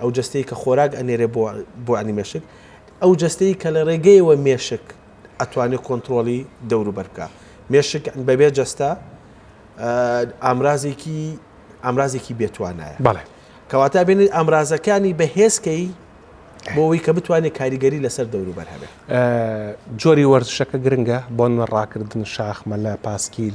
ئەو جەستەی کە خۆراک ئەنێرێ بۆ بۆ عنی مێشک ئەو جەستەی کە لە ڕێگەیەوە مێشک ئەتوانێت کۆنتترۆلی دەوروبەر بکە مێشک بەبێ جەستە ئامرازێکی ئامرازێکی بێتوانایە بەڵێ کەواتە بێنێت ئامرازەکانی بەهێزکەی بۆەوەی کە بتوانێت کاریگەری لەسەر دەوروبەر هەبێت جۆری وەرزشەکە گرنگە بۆن ڕاکردن شاخمە لە پاسکیل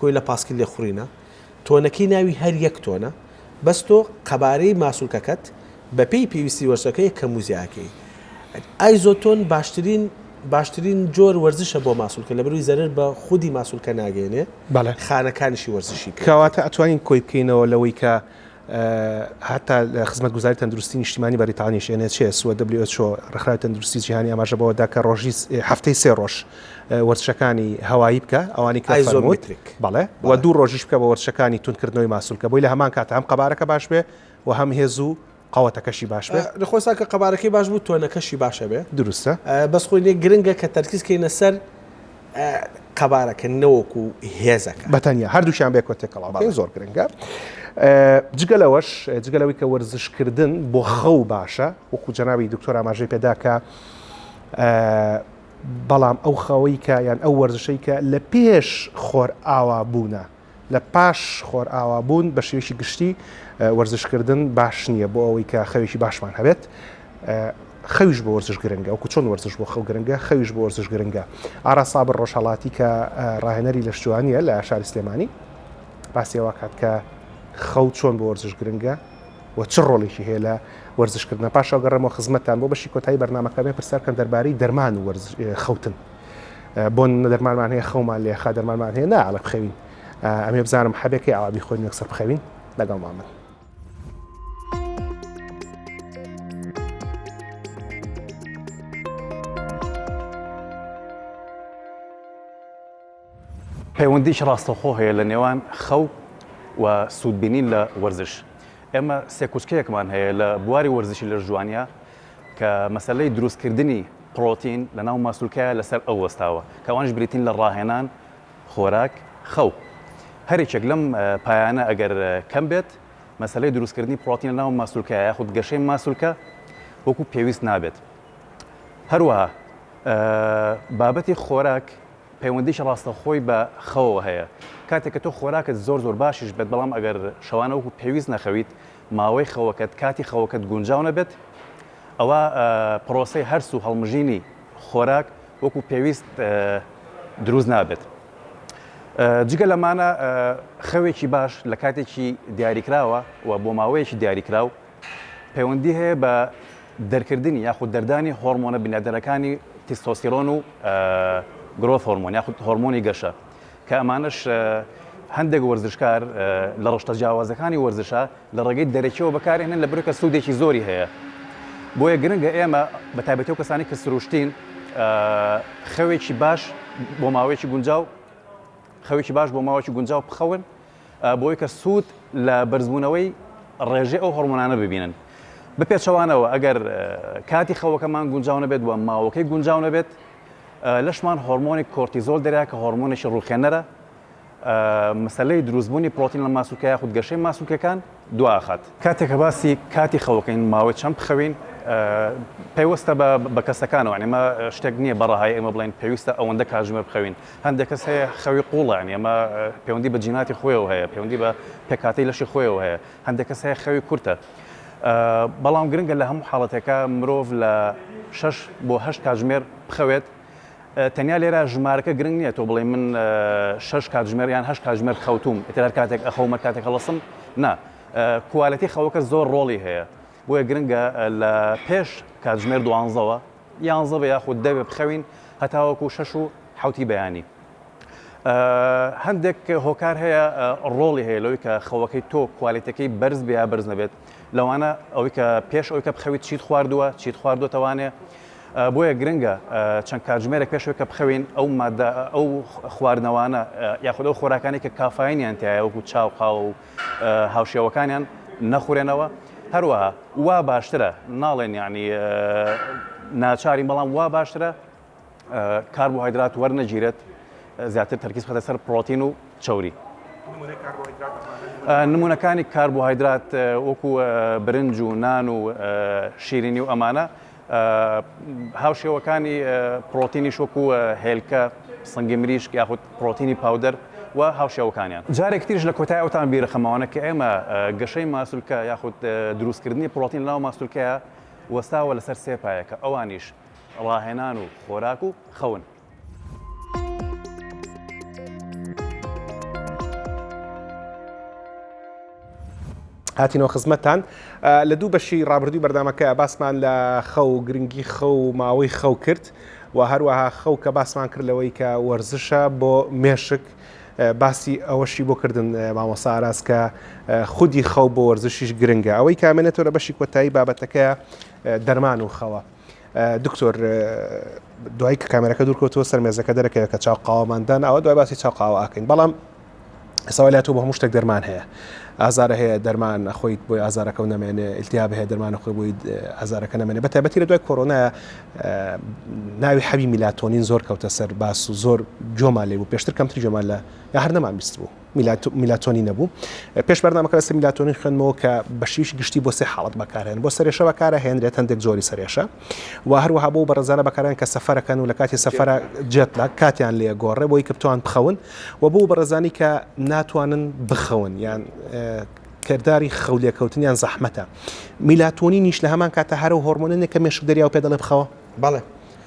کۆیلە پاسکیل لێخوڕینە تۆنەکەی ناوی هەر یەک تۆنە بەس تۆ قەبارەی ماسولکەکەت بەپێی پێویستی وەرزشەکەی کەم و زیاکەی ئایزۆتۆن باشترین باشترین جۆر وەرزشە بۆ ماسولکە لە بروی زەرر بە خودی ماسولکە ناگەێنێ خانەکانیشی وەرزشی کەواتە ئەتوانین کۆی بکەینەوە لەوەی کە هەتا لە خزمەتگوزاری تەندروستی نیشتیمانی بەریتانیش NHS و WHO ڕێکخراوی تەندروستی جیهانی ئاماژە بەوە دا کە ڕۆژی هەفتەی سێ ڕۆژ وەرزشەکانی هەوایی بکە ئەوانی کە ئایزۆمتریک بەڵێ و دوو ڕۆژیش بکە بە وەرزشەکانی تونکردنەوەی ماسولکە بۆی لە هەمان کاتە هەم قەبارەکە باش بێ و هەم هێز و قەوەتەکەشی باش بێ نەخۆسا کە قەبارەکەی باش بوو تۆنەکەشی باشە بێ دروستە بەس خۆی لێ گرنگە کە تەرکیز کەینە سەر قەبارەکە نەوەکو هێزەکە. بە تەنیا، هەردووکیان بێکۆ تێکەڵاو بکەین زۆر گرنگە. جگە لەوەش، جگە لەوەی کە وەرزشکردن بۆ خەو باشە، وەکو جەنابی دکتۆر ئاماژەی پێ دا کە بەڵام ئەو خەوەی کە یان ئەو وەرزشەی کە لە پێش خۆرئاوا بوونە، لە پاش خۆرئاوا بوون بە شێوەیەکی گشتی وەرزش کردن باش نییە بۆ ئەوەی کە خەوێکی باشمان هەبێت خەویش بۆ وەرزش گرنگە وکو چۆن وەرزش بۆ خەو گرنگە خەویش بۆ وەرزش گرنگە ئارا سابر ڕۆژهڵاتی کە ڕاهێنەری لە شتوانیە لە شاری سلێمانی باسیەوە کات کە خەو چۆن بۆ وەرزش گرنگە و چ ڕۆڵێکی هەیە لە وەرزشکردنە پاشەوەگەڕێمەوە خزمەتتان بۆ بەشی کۆتایی بەرنمەکەمێ پرسیارکەن دەربارەی دەرمان و خەوتن. بۆن دەرمانمان هەیە خەومان لێ خا دەرمانمان هەیە نا ئەڵە بخەوین ئەمێ بزانم حەبێکی ئاوابی خۆین یەکسەر بخەوین لەگەڵ مامن پەیوەندیش ڕاستەخۆ هەیە لە نێوان خەو و سوودبینین لە وەرزش ئێمە سێکوچکەیەکمان هەیە لە بواری وەرزشی لە ژوانە کە مەسەلەی دروستکردنی پڕۆتین لەناو ماسولکەیا لەسەر ئەو وەستاوە، کە ئەوانیش بریتین لە ڕاهێنان، خۆراک، خەو. هەر یەکێک لەم پایانە ئەگەر کەم بێت، مەسەلەی دروستکردنی پڕۆتین لەناو ماسولکەیا یاخود گەشەی ماسولکە وەکو پێویست نابێت. هەروەها بابەتی خۆراک پەیوەندیی ڕاستەوخۆی بە خەوەوە هەیە، کاتێک کە تۆ خۆراکت زۆر زۆر باشیش بێت، بەڵام ئەگەر شەوانە وەکو پێویست نەخەویت، ماوەی خەوەکەت، کاتی خەوەکەت گونجاو نەبێت، ئەوا پرۆسەی هەرس و هەڵمژینی خۆراک وەکو پێویست دروست نابێت. جگە لەمانە خەوێکی باش لە کاتێکی دیاریکراوە و بۆ ماوەیەکی دیاریکراو پەیوەندی هەیە بە دەرکردنی یاخود دەردانی هۆرمۆنە بنیادنەرەکانی تیستۆستیرۆن و گرۆث هۆرمۆن یاخود هۆرمۆنی گەشە کە ئەمانەش هەندێک وەرزشکار لە ڕشتە جیاوازەکانی وەرزشە لە ڕێگەی دەرەکیەوە بەکارێنن لە برکە سوودێکی زۆری هەیە بۆیە گرنگە ئێمە بە تایبەتی و کەسانی کە سروشتین خەوێکی باش بۆ ماوەیەکی گونجاو خەوێکی باش بۆ ماوەکی گونجاو بخەون بۆی کە سوود لە بەرزبوونەوەی ڕێژەی ئەو هەرمۆنانە ببینن بپێچەوانەوە ئەگەر کاتی خەوەکەمان گونجاو نەبێت و ماوەکەی گونجاو نەبێت لەشمان هۆرمۆنی کۆرتیزۆل دەرێ کە هۆرمۆنێکی ڕووخێنەرە مەسلەی دروستبوونی پرۆتین لە ماسولکە یاخود گەشەی ماسولکەکان دواخات کاتێک کە باسی کاتی خەوەکەین ماوەی چەند بخەوین پەیوەستە بە بە کەسەکانەوە ئەمە شتێک نییە بەڕەهای ئێمە بڵێن پێویستە ئەوەندە کاژمێر بخەوین هەندێک کەس هەیە خەوی قوڵیان ئێمە پەیوەندی بە جیناتی خۆیەوە هەیە پەیوەندی بە پێکاتی لەشی خۆیەوە هەیە هەندێک کەس هەیە خەوی کورتە بەڵام گرنگە لە هەموو حاڵەتێکا مرۆڤ لە شەش بۆ هەشت کاتژمێر بخەوێت تەنیا لێرە ژمارەکە گرنگ نییە تۆ بڵێ من شش کاتژمێر یان هەش کاتژمێر خەوتوم ئیتر هەر کاتێک ئەخەومە کاتێک هەڵسم نا کوالەتی خەوەکە زۆر ڕۆڵی هەیە بۆیە گرنگە لە پێش کاتژمێر دوانزەوە یانزە بە یاخود دە بخەوین هەتاوەکو شەش و حەوتی بەیانی. هەندێک هۆکار هەیە ڕۆڵی هەیە لەوەی کە خەوەکەی تۆ کوالێتەکەی بەرز بێ یا بەرز نەبێت لەوانە ئەوەی کە پێش ئەوی کە بخەویت چیت خواردووە چیت خواردوەتەوانێ بۆیە گرنگە چەند کاتژمێرە پێشەوەی کە بخەوین ئەو مادە ئەو خواردنەوانە یاخود ئەو خۆراکانی کە کافاینیان تایە وەکو چاو قاوە و هاوشێوەکانیان نەخورێنەوە هەروەها وا باشترە ناڵێن یعنی ناچاری بەڵام وا باشترە کاربۆهایدرات وەرنەگیرێت زیاتر تەرکیز خەتە سەر پرۆتین و چوری نمونونەکانی کاربۆهایدرات وەکو برنج و نان و شیرینی و ئەمانە هاوشێوەکانی پڕۆتینیش وەکو هێلکە، سنگی مریشک یاخود پڕۆتینی پاودەر و هاوشێوەکانیان. جارێکی تریش لە کۆتایی ئەوتان بیرەخەمەوانە کە ئێمە گەشەی ماسولکە یاخود دروستکردنی پڕۆتین لەناو ماسولکەیا وەستاوە لەسەر سێ پایەکە ئەوانیش ڕاهێنان و خۆراک و خەون. هاتینەوە خزمەتان لە دوو بەشی ڕابردووی بەردامەکە باسمان لە خەو و گرنگی خەو و ماوەی خەو کرد و هەروەها خەو کە باسمان کرد لەوەی کە وەرزشە بۆ مێشک باسی ئەوەشی بۆ کردن مامۆساراز کە خودی خەو بۆ وەرزشیش گرنگە ئەوەی کامێنێتەوە لە بەشی کۆتایی بابەتەکە دەرمان و خەوە. دکتۆر دوای کە کامێرەکە دوورکەوتەوە سەر مێزەکە دەرەکەوێت کە چاو قاوەماندان ئەوە دوای باسی چاو قاوە ئاکەین بەڵام ئێساوا لاتۆ بە هەموو شتێک دەرمان هەیە ئازارە هەیە دەرمان خۆیت بۆی ئازارەکە نامێنێ ئیلتیاب هەیە دەرمانە خۆی بۆی ئازارەکە نامێنێ بە تایبەتی لە دوای کۆرۆنا ناوی حەبی میلاتۆنین زۆر کەوتە سەر باس و زۆر جۆمان لێ بوو پێشتر کەمتری جۆمان لە یا هەر نەمان بیست بوو میلاتۆنی نەبوو پێش بەرنامە کەسە میلاتۆنی خوێنمەوە کە بەشیش گشتی بۆ سێ حاڵت بەکارێن بۆ سەرێشە بەکارە هێنرێت هەندێک زۆری سەرێشە و هەروەها بۆ بەڕزانە بەکاران کە سەفەرەکەن و لە کاتی سەفرە جێت لە کاتیان لێ گۆڕێ بۆی کەپتوان بخەون و بۆ بەڕزانی کە ناتوانن بخەون یان کردداری خەولێکەوتنیان زەحمەتە میلاتۆنی نیش لە هەمان کاتە هەرو هۆرمۆنێک کە مێشک دەریا و پێ دەڵێ بخەوە بەڵێ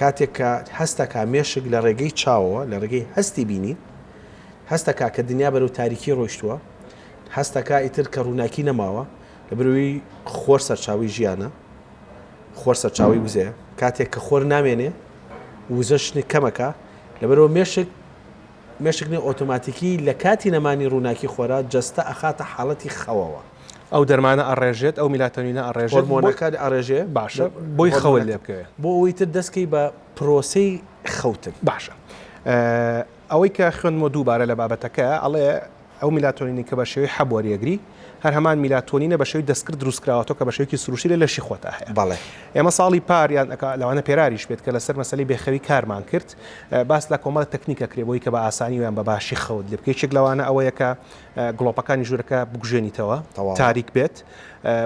کاتێک کە هەست دەکات مێشک لە ڕێگەی چاوەوە، لە ڕێگەی هەستی بینین، هەست دەکات کە دنیا بەرەو تاریکی ڕۆیشتووە، هەست دەکات ئیتر کە ڕووناکی نەماوە، لەبەرئەوەی خۆر سەرچاوەی ژیانە، خۆر سەرچاوەی وزەیە، کاتێک کە خۆر نامێنێ، وزەش کەمەکە، لەبەرئەوە مێشک، مێشک نە ئۆتۆماتیکی لە کاتی نەمانی ڕووناکی خۆرا جەستە ئەخاتە حاڵەتی خەوەوە. ئەو دەرمانە ئەڕێژێت ئەو میلاتۆنینە ئەڕێژێت هۆرمۆنەکە ئەڕێژێ باشە بۆی خەوت لێ بکەوێ بۆ ئەوی تر دەستکەی بە پرۆسەی خەوتن باشە ئەوەی کە خوێندمەوە دووبارە لە بابەتەکە ئەڵێ ئەو میلاتۆنینی کە بە شێوەی حەب وەریەگری هەر هەمان میلاتۆنینە بە شێوی دەستکرد دروستکراوەتەوە کە بە شێوکی سروشتی لە لەشی خۆتا هەیە بەڵێ ئێمە ساڵی پاریان لەوانە پێراریش بێت کە لەسەر مەسلی بێخەوی کارمان کرد باس لە کۆمەڵە تەکنیکە کرێبەوەی کە بە ئاسانی ویان بە باشی خەوت لێ بکەیت لەوانە ئەوەیەکە گڵۆپەکانی ژوورەکە بکوژێنیتەوە تاریک بێت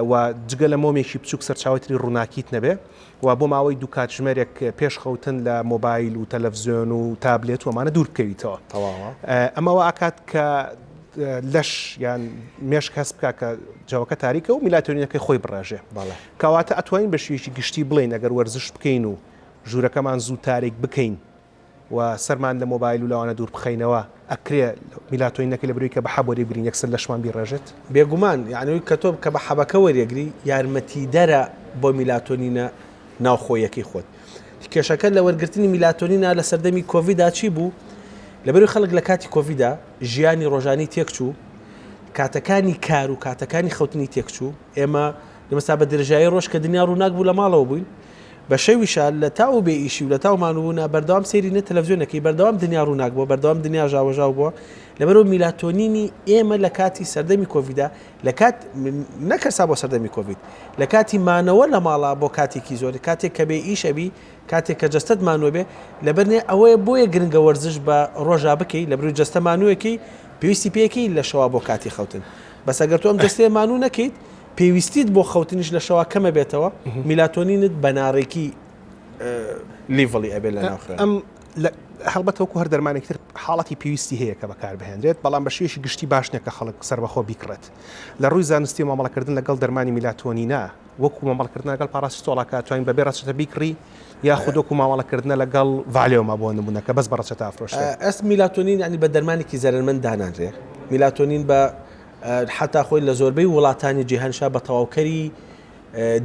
و جگە لە مۆمێکی بچووک سەرچاوی تری ڕووناکیت نەبێ و بۆ ماوەی دوو کاتژمێرێک پێش خەوتن لە مۆبایل و تەلەڤزیۆن و تابلێت ومانە دوور بکەویتەوە ئەمەوە ئاکات کە لەش یان مێشک هەست بکە کە جەوەکە تاریکە و میلاتۆنینەکەی خۆی بڕێژێ کەواتە ئەتوانین بە شوێکی گشتی بڵین ئەگەر وەرزش بکەین و ژوورەکەمان زوو تاریک بکەین و سەرمان لە مۆبایل و لەوانە دوور بخەینەوە ئەکرێ میلاتۆینەکە لە برۆی کە بە حەب وەریبگرین یەکسەر لەشمان بیڕێژێت. بێگومان یانەوەی کە تۆ کە بە حەبەکە وەریەگری یارمەتیدەرە بۆ میلاتۆنینە ناوخۆییەکەی خۆت. کێشەکە لە وەرگرتنی میلاتۆنینە لە سەردەمی کۆڤیدا چی بوو؟ لە بەروی خەڵک لە کاتی کۆڤیدا ژیانی ڕۆژانی تێکچوو کاتەکانی کار و کاتەکانی خەوتنی تێکچوو ئێمە لەمەستا بە درێژایی ڕۆژ کە دنیا ڕووناک بوو لە ماڵەوە بووین بەشەی وشال لەتا و بێ ئیشی و لەتا و مانووبوونا بەردەوام سەیری نە تەلەفزیۆن ئەکەی بەردەوام دنیا ڕووناک بووە بەردەوام دنیا ژاوەژاو بووە لەبەرئەوە میلاتۆنینی ئێمە لە کاتی سەردەمی کۆڤیدا لە کات نەک هەر سا بۆ سەردەمی کۆڤید لە کاتی مانەوە لە ماڵا بۆ کاتێکی زۆر کاتێک کە بێ ئیش ئەبی کاتێک کە جەستەت مانووە بێ لەبەرنێ ئەوەیە بۆیە گرنگە وەرزش بە ڕۆژا بکەی لە بروی جەستە مانوویەکەی پێویستی پێیەکەی لە شەوا بۆ کاتی خەوتن بەس ئەگەر تۆ ئەم جەستەیە مانوو نەکەیت پێویستیت بۆ خەوتنیش لە شەوا کەمە بێتەوە میلاتۆنینت بەناڕێکی لیڤڵی ئەبێت لە ناخێن ئەم هەڵبەت وەکو هەر دەرمانێکتر حاڵەتی پێویستی هەیە کە بەکار بهێنرێت بەڵام بە شێشی گشتی باش نەکە خەڵک سربەخۆ بیکڕێت لە ڕووی زانستی مامەڵەکردن لەگەڵ دەرمانی میلاتۆنینا وەکو مامەڵکردن لەگەڵ پاراستۆڵاکە توانین بەبێ ڕەچەتە بیکڕی یا خودۆکو مامەڵەکردنە لەگەڵ ڤالێوما بۆ نمونونەکە بەس بە ڕەچەتە ئەفرۆشێت ئەس میلاتۆنین ینی بە دەرمانێکی زەرمەند دانانرێ میلاتۆنین بە حەتا خۆی لە زۆربەی وڵاتانی جیهانشا بە تەواوکەری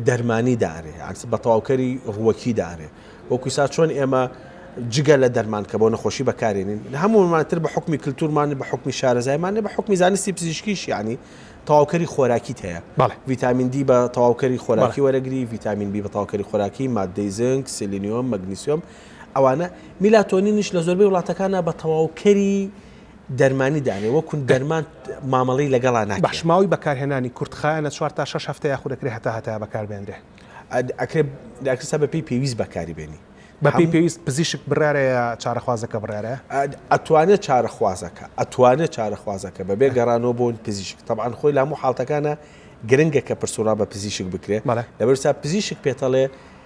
دەرمانی دارێ ئەس بە تەواوکەری ڕووەکی دارێ وەکوسا چۆن ئێمە جگە لە دەرمان کە بۆ نەخۆشی بەکارێنین هەموومانتر بە حکمی کللتورمان بە حکمی شارەزایمان بە حکمی زانستی پزیشکیش ینی تەواوکەری خۆراکی هەیە ڤیتامین دی بە تەواوکەری خۆراکی وەرەگری ڤیتامین بی بە تاوکەری خۆراکی مادەی زنگ سلینیۆم مەگنیسیۆم ئەوانە میلاتۆنینیش لە زۆربەی وڵاتەکانە بە تەواوکەری دەرمانی دانێ وە کون دەرمان مامەڵەی لەگەڵا ناکرێ. بەش ماوەی بەکارهێنانی کورت خایەنە چوار تا شەش هەفتە یاخود ئەکرێ هەتا هەتایە بەکار بێنرێ. ئەکرێ داکتر سا بە پێی پێویست بەکاری بێنی. بە پێی پێویست پزیشک بڕیارە یا چارەخوازەکە بڕیارە؟ ئەتوانێ چارەخوازەکە ئەتوانێ چارەخوازەکە بەبێ گەڕانەوە بۆ پزیشک تەبعەن خۆی لە هەموو حاڵتەکانا گرنگە کە پرس و ڕا بە پزیشک بکرێ بەڵێ لەبەر سا پزیشک پێتەڵێ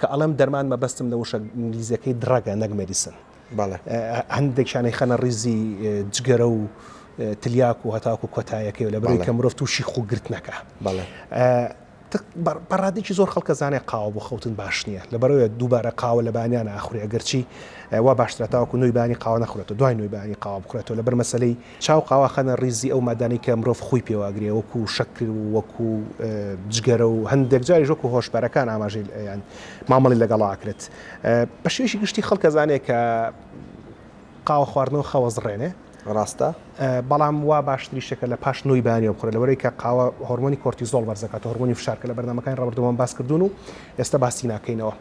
کە ئەڵێم دەرمان مەبەستم لە وشە ئینگلیزیەکەی دڕەگە نەک مێدیسن بەڵێ هەندێکیان ئەیخەنە ڕیزی جگەرە و تلیاک و هەتاکو و کۆتایەکەی لە بەرەی کە مرۆڤ تووشی خوگرتنەکە بەڵێ بەڕادێکی زۆر خەڵکە زانێ قاوە بۆ خەوتن باش نییە لە بەرەوە دووبارە قاوە لە بانیان ئاخوری ئەگەرچی وا باشترە تاوەکو نوێی بانی قاوە نەخورێتەوە دوای نوێی بانی قاوە بخورێتەوە لەبەر مەسلەی چاو قاواخانە ریزی ئەو مادانەی کە مرۆڤ خووی پێوە ئەگرێ وەکو شەکر و وەکو جگەرە و هەندێک جاریش وەکو هۆشبەرەکان ئاماژەی یان مامەڵی لەگەڵا ئەکرێت بە شێوەیەکی گشتی خەڵک ئەزانێ کە قاوە خواردنەوە خەوەزڕێنێ ڕاستە بەڵام وا باشتری شەکە لە پاش نوی بانی و بخورە لەوەی کە قاوە هۆرمۆنی کۆرتیزۆڵ بەرزەکات هۆرمۆنی فشارکە لە بەرنمەکانی ڕبردومان باس کردوون و ئێستا باسی ناکەینەوە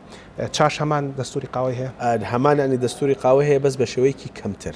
چاش هەمان دەستوری قاوەی هەیە هەمانانی دەستوری قاوە هەیە بەس بە شێوەیەکی کەمتر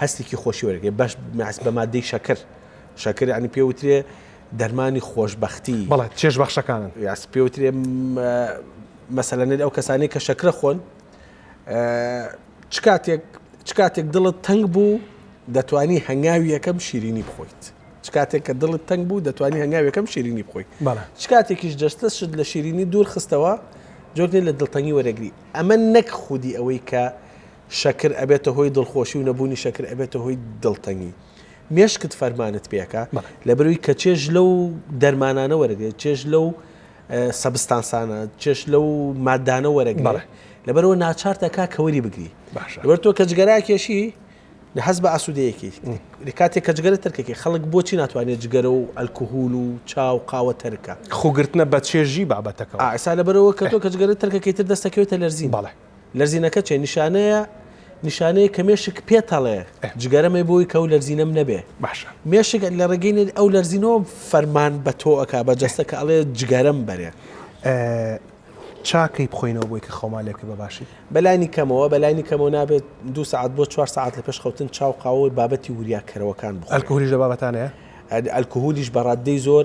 هەستێکی خۆشی وەردەگرێت بەش مەس بە مادەی شەکر شەکر یعنی پێ وترێ دەرمانی خۆشببختی بەڵێت چێش بەخشەکانن یاس پێ وترێ مەسەلەنێت ئەو کەسانی کە شەکرە خۆن چ کاتێک چ کاتێک دڵت تەنگ بوو دەتانی هەنگاوی یەکەم شیرینی بخۆیت چ کاتێک کە دڵت تەنگ بوو دەتوانانی هەنگاوەکەم شیرینی بخۆی چ کاتێکیش جەستە شت لە شیرینی دوور خستەوە جۆرنی لە دڵتەنگی وەرەگری ئەمە نەک خودی ئەوەی کە شەکر ئەبێتە هۆی دڵخۆشی و نەبوونی شەکر ئەبێتە هۆی دڵتەنگی. مێشکت فەرمانت پێ ئەکا لەبەرئەوەی کە چێژ لەو دەرمانانە وەرەگرێت، چێژ لەو سەبستانسانە، چێژ لەو ماددانە وەرەگرێت، لەبەرئەوە ناچارت ئەکا کە وەری بگری. لەبەر تۆ کە جگەرە ئەکێشی، هەست بە ئاسوودەییەکی ئەکەی. کاتێک کە جگەرە تەرک ئەکەی، خەڵک بۆچی ناتوانێت جگەرە و ئەلکهول و چا و قاوە تەرک کا؟ خۆگرتنە بە چێژی بابەتەکەوە. ئا ئێستا لەبەرئەوە کە تۆ کە جگەرە تەرک ئەکەی، ئیتر دەست ئەکەوێتە لەرزین. بەڵێ. لەرزینەکە چیە نیشانەیە؟ نیشانەیە کە مێشک پێتەڵێ جگەرە مەی بۆی کە و لەرزینەم نەبێ باشە مێشک لە ڕێگەی ئەو لەرزینەوە فەرمان بە تۆئک بە جەستە کە ئەڵێ جگەرم بەرێ چاکەی بخۆینەوە بۆی کە خۆمان لێکە بە باشی بەلانی کەمەوە بەلانی کەمەوە نابێت دو سعات بۆ چوار سعات لە پێش خەوتن چاو قاوەی بابەتی وریاکەرەوەکان بخۆلکوهولیش لە بابەتانەیە ئەلکوهولیش بەڕاددەی زۆر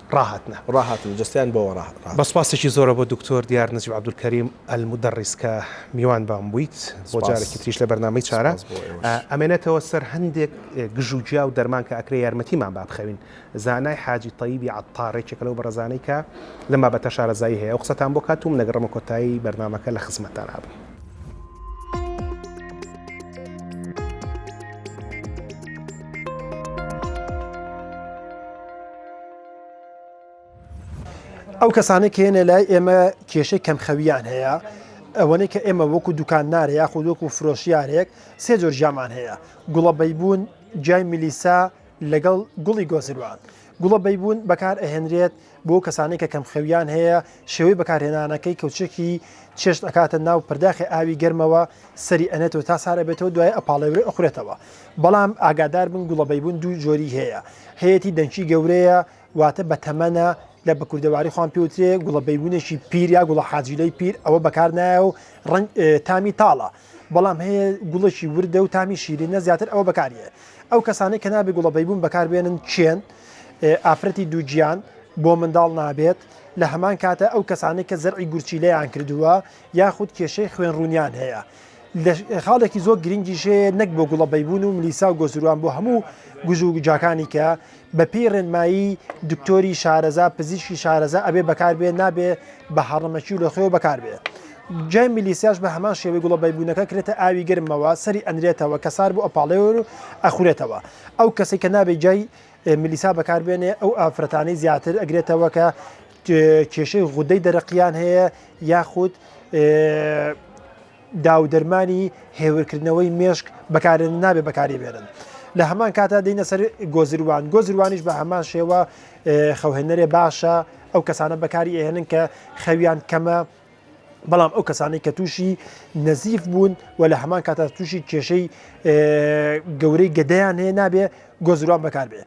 ڕاهاتنە ڕاهاتن جەستەیان بۆوە ڕاهاتن. بە سوپاسێکی زۆرە بۆ دکتۆر دیار نجیب عبدالکریم المدرس کە میوان بام بوویت بۆ جارێکی تریش لە بەرنامەی چارە ئەمێنێتەوە سەر هەندێک گژ و گیا و دەرمان کە ئەکرێ یارمەتیمان با بخەوین زانای حاجی تەیبی عەتار یەکێکە لەو بەڕێزانەی کە لەم بابەتە شارەزایی هەیە ئەو قسەتان بۆ کات و من ئەگەڕێمە کۆتایی بەرنامەکە لە خزمەتتان ئەبم. ئەو کەسانەی کە هێنە لای ئێمە کێشەی کەمخەویان هەیە ئەوەنەی کە ئێمە وەکو دوکاندارە یاخود وەکو فرۆشیارێک سێ جۆر ژامان هەیە گوڵە بەیبوون جای میلیسا لەگەڵ گوڵی گۆزروان گوڵە بەیبوون بەکار ئەهێنرێت بۆ کەسانێک کە کەمخەویان هەیە شێوەی بەکارهێنانەکەی کەوچێکی چێشت ئەکاتە ناو پرداخی ئاوی گەرمەوە سەری ئەنێتەوە تا سارە بێتەوە دوای ئەپاڵێورێ ئەخورێتەوە بەڵام ئاگادار بن گوڵە بەیبون دوو جۆری هەیە هەیەتی دەنکی گەورەیە واتە بە تەمەنە لە بە کوردەواری خۆیان پێوترێ گوڵە بەیبونێکی پیر یا گوڵە حاجیلەی پیر ئەوە بەکار نایە و ڕەنگ تامی تاڵە بەڵام هەیە گوڵەکی وردە و تامی شیرینە زیاتر ئەوە بەکاریە ئەو کەسانەی کە نابێ گوڵە بەیبون بەکاربێنن چێن ئافرەتی دووگیان بۆ منداڵ نابێت لە هەمان کاتە ئەو کەسانی کە زەرعی گورچیلەیان کردووە یاخود کێشەی خوێن ڕوونیان هەیە خاڵێکی زۆر گرنگی ژەیە نەک بۆ گوڵە بەیبوون و ملیسا و گۆزروان بۆ هەموو گوژ و گوجاکانی کە بەپی ڕێنمایی دکتۆری شارەزا پزیشکی شارەزا ئەبێ بەکاربێ نابێ بە هەڕەمەکی و لە خۆێ بەکاربێ. جای میلیسیاش بە هەمان شێوەی گوڵە بەیبوونەکە کرێتە ئاوی گرمەوە سەری ئەنرێتەوە کە سار بۆ ئەپاڵێور و ئەخورێتەوە ئەو کەسی کە نابێ جای ملیسا بەکاربێنێ ئەو ئافرەتانی زیاتر ئەگرێتەوە کە کێشەی غودەی دەرەقیان هەیە یاخود داودەرمانی هێورکردنەوەی مێشک بەکارێن نابێ بەکاری بێنن. لە هەمان کاتا دەینە سەر گۆزروان گۆزروانیش بە هەمان شێوە خەوهێنەرێ باشە ئەو کەسانە بەکاری ئێنن کە خەویان کەمە بەڵام ئەو کەسانی کە تووشی نەزیف بوون و لە هەمان کاتا تووشی کێشەی گەورەی گەدەیان هەیە نابێ گۆزروان بەکار بێ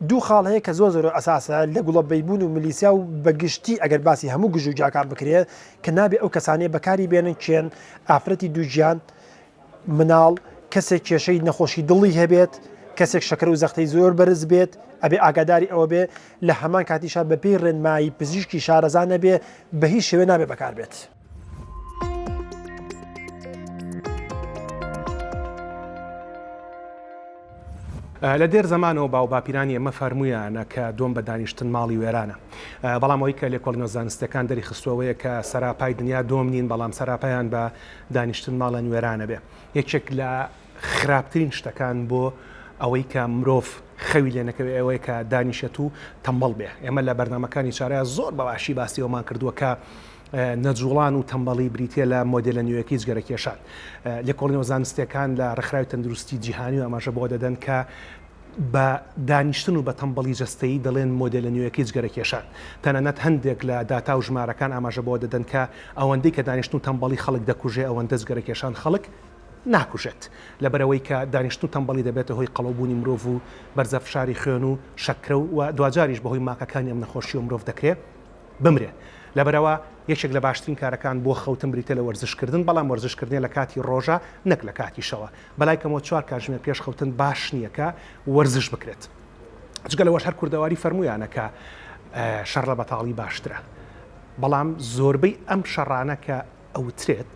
دوو خاڵ هەیە کە زۆر زۆر ئەساسە لە گوڵە بەیبون و ملیسیا و بە گشتی ئەگەر باسی هەموو گژوگیاکان بکرێ کە نابێ ئەو کەسانەیە بەکاری بێنن کێن ئافرەتی دووگیان مناڵ کەسێک کێشەی نەخۆشی دڵی هەبێت کەسێک شەکر و زەختەی زۆر بەرز بێت ئەبێ ئاگاداری ئەوە بێ لە هەمان کاتیشا بەپێی ڕێنمایی پزیشکی شارەزا نەبێ بە هیچ شێوێ نابێ بەکار بێت. لە دێر زەمانەوە باو باپیرانی ئەمە فەرمویانە کە دۆم بە دانیشتن ماڵی وێرانە بەڵام ئەوی کە لێکۆڵینەوە زانستەکان دەری خستوەوەیە کە سەراپای دنیا دۆم نین بەڵام سەراپیان بە دانیشتن ماڵە نوێرانە بێ یەکێک لە خراپترین شتەکان بۆ ئەوەی کە مرۆڤ خەوی لێ نەکەوێت ئەوەیە کە دانیشێت و تەمبەڵ بێ ئێمە لە بەرنمەکانی چارەیە زۆر بەباشی باسی ئەومان کردووە کە نەجووڵان و تەمبەڵی بریتییە لە مۆدێلە نوێیەکەی جگەرەکێشان. لێکۆڵینەوە زانستییەکان لە ڕێکخراوی تەندروستیی جیهانی و ئاماژە بەوە دەدەن کە بە دانیشتن و بە تەمبەڵی جەستەیی دەڵێن مۆدێلە نوێیەکەی جگەرەکێشان. تەنانەت هەندێک لە داتا و ژمارەکان ئاماژە بەوە دەدەن کە ئەوەندەی کە دانیشتن و تەمبەڵی خەڵک دەکوژێ ئەوەندە جگەرەکێشان خەڵک ناکوژێت. لەبەرئەوەی کە دانیشتن و تەمبەڵی دەبێتە هۆی قەڵەوبوونی مرۆڤ و بەرزە فشاری خوێن و شەکرە و دواجاریش بەهۆی ماکەکانی ئەم نەخۆشییەوە مرۆڤ دەکرێ. بمرێ لەبەرئەوە یەکێک لە باشترین کارەکان بۆ خەوتن بریتیە لە وەرزش کردن بەڵام وەرزش کردنێ لە کاتی ڕۆژە نەک لە کاتی شەوە بەلای کەمەوە چوار کاتژمێر پێش خەوتن باش نیە کە وەرزش بکرێت جگە لەوەش هەر کوردەواری فەرمویانە کە شەڕ لە بەتاڵی باشترە بەڵام زۆربەی ئەم شەڕانە کە ئەوترێت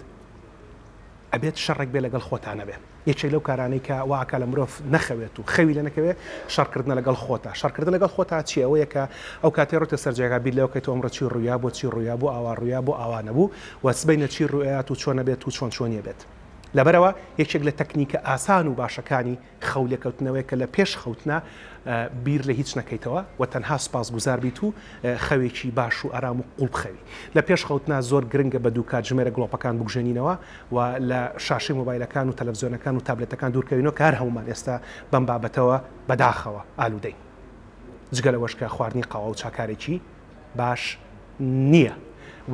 ئەبێت شەڕێک بێ لەگەڵ خۆتانەبێ. یەکێک لەو کارانەی کە وا ئەکا لە مرۆڤ نەخەوێت و خەوی لێ نەکەوێ شەڕکردنە لەگەڵ خۆتە شەڕکردن لەگەڵ خۆتا چیە ئەوەیە کە ئەو کاتەی ڕۆتە سەر جێگا بیر لەوە کەیتەوە ئەمڕۆ چی ڕوویا بۆ چی ڕوویا بۆ ئاوا ڕوویا بۆ ئاوا نەبوو و سبەینێ چی ڕووئەیات و چۆن ئەبێت و چۆن چۆنی ئەبێت لەبەرئەوە یەکێک لە تەکنیکە ئاسان و باشەکانی خەو لێکەوتنەوەیە کە لە پێش خەوتنا بیر لە هیچ نەکەیتەوە و تەنها سوپاسگوزار بیت و خەوێکی باش و ئارام و قوڵ بخەوی لە پێش خەوتنا زۆر گرنگە بە دوو کاتژمێرە گڵۆپەکان بکوژێنینەوە و لە شاشەی مۆبایلەکان و تەلەفزیۆنەکان و تابلێتەکان دوورکەوینەوە کە هەر هەموومان ئێستا بەم بابەتەوە بەداخەوە ئالوودەین جگە لەوەش کە خواردنی قاوە و چا کارێکی باش نییە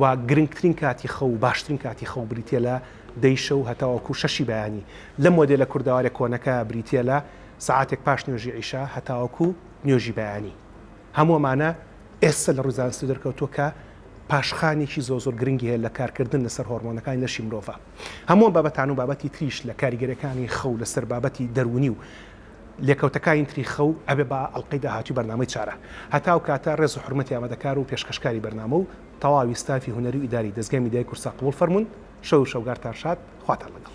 و گرنگترین کاتی خەو و باشترین کاتی خەو بریتییە لە دەی شەو هەتاوەکو شەشی بەیانی لەم مۆدێلە کوردەوارە کۆنەکە بریتییە لە سەعاتێک پاش نوێژی عیشا هەتاوەکو نوێژی بەیانی. هەموو ئەمانە ئێستا لە ڕووی زانستی دەرکەوتووە کە پاشخانێکی زۆر زۆر گرنگی هەیە لە کارکردن لەسەر هۆڕمۆنەکانی لەشی مرۆڤ. هەموو ئەم بابەتانە و بابەتی تریش لە کاریگەریەکانی خەو لەسەر بابەتی دەروونی و لێکەوتەکانی تری خەو ئەبێ بە ئەڵقەی داهاتووی بەرنامەی چارە. هەتا ئەو کاتە ڕێز و حورمەتی ئامادەکار و پێشکەشکاری بەرنامە و تەواوی ستافی هونەری و ئیداری دەزگای میدیای کوردسات قبوڵ فەرموون. شەو و شەوگارتان شاد. خواتان لەگەڵ.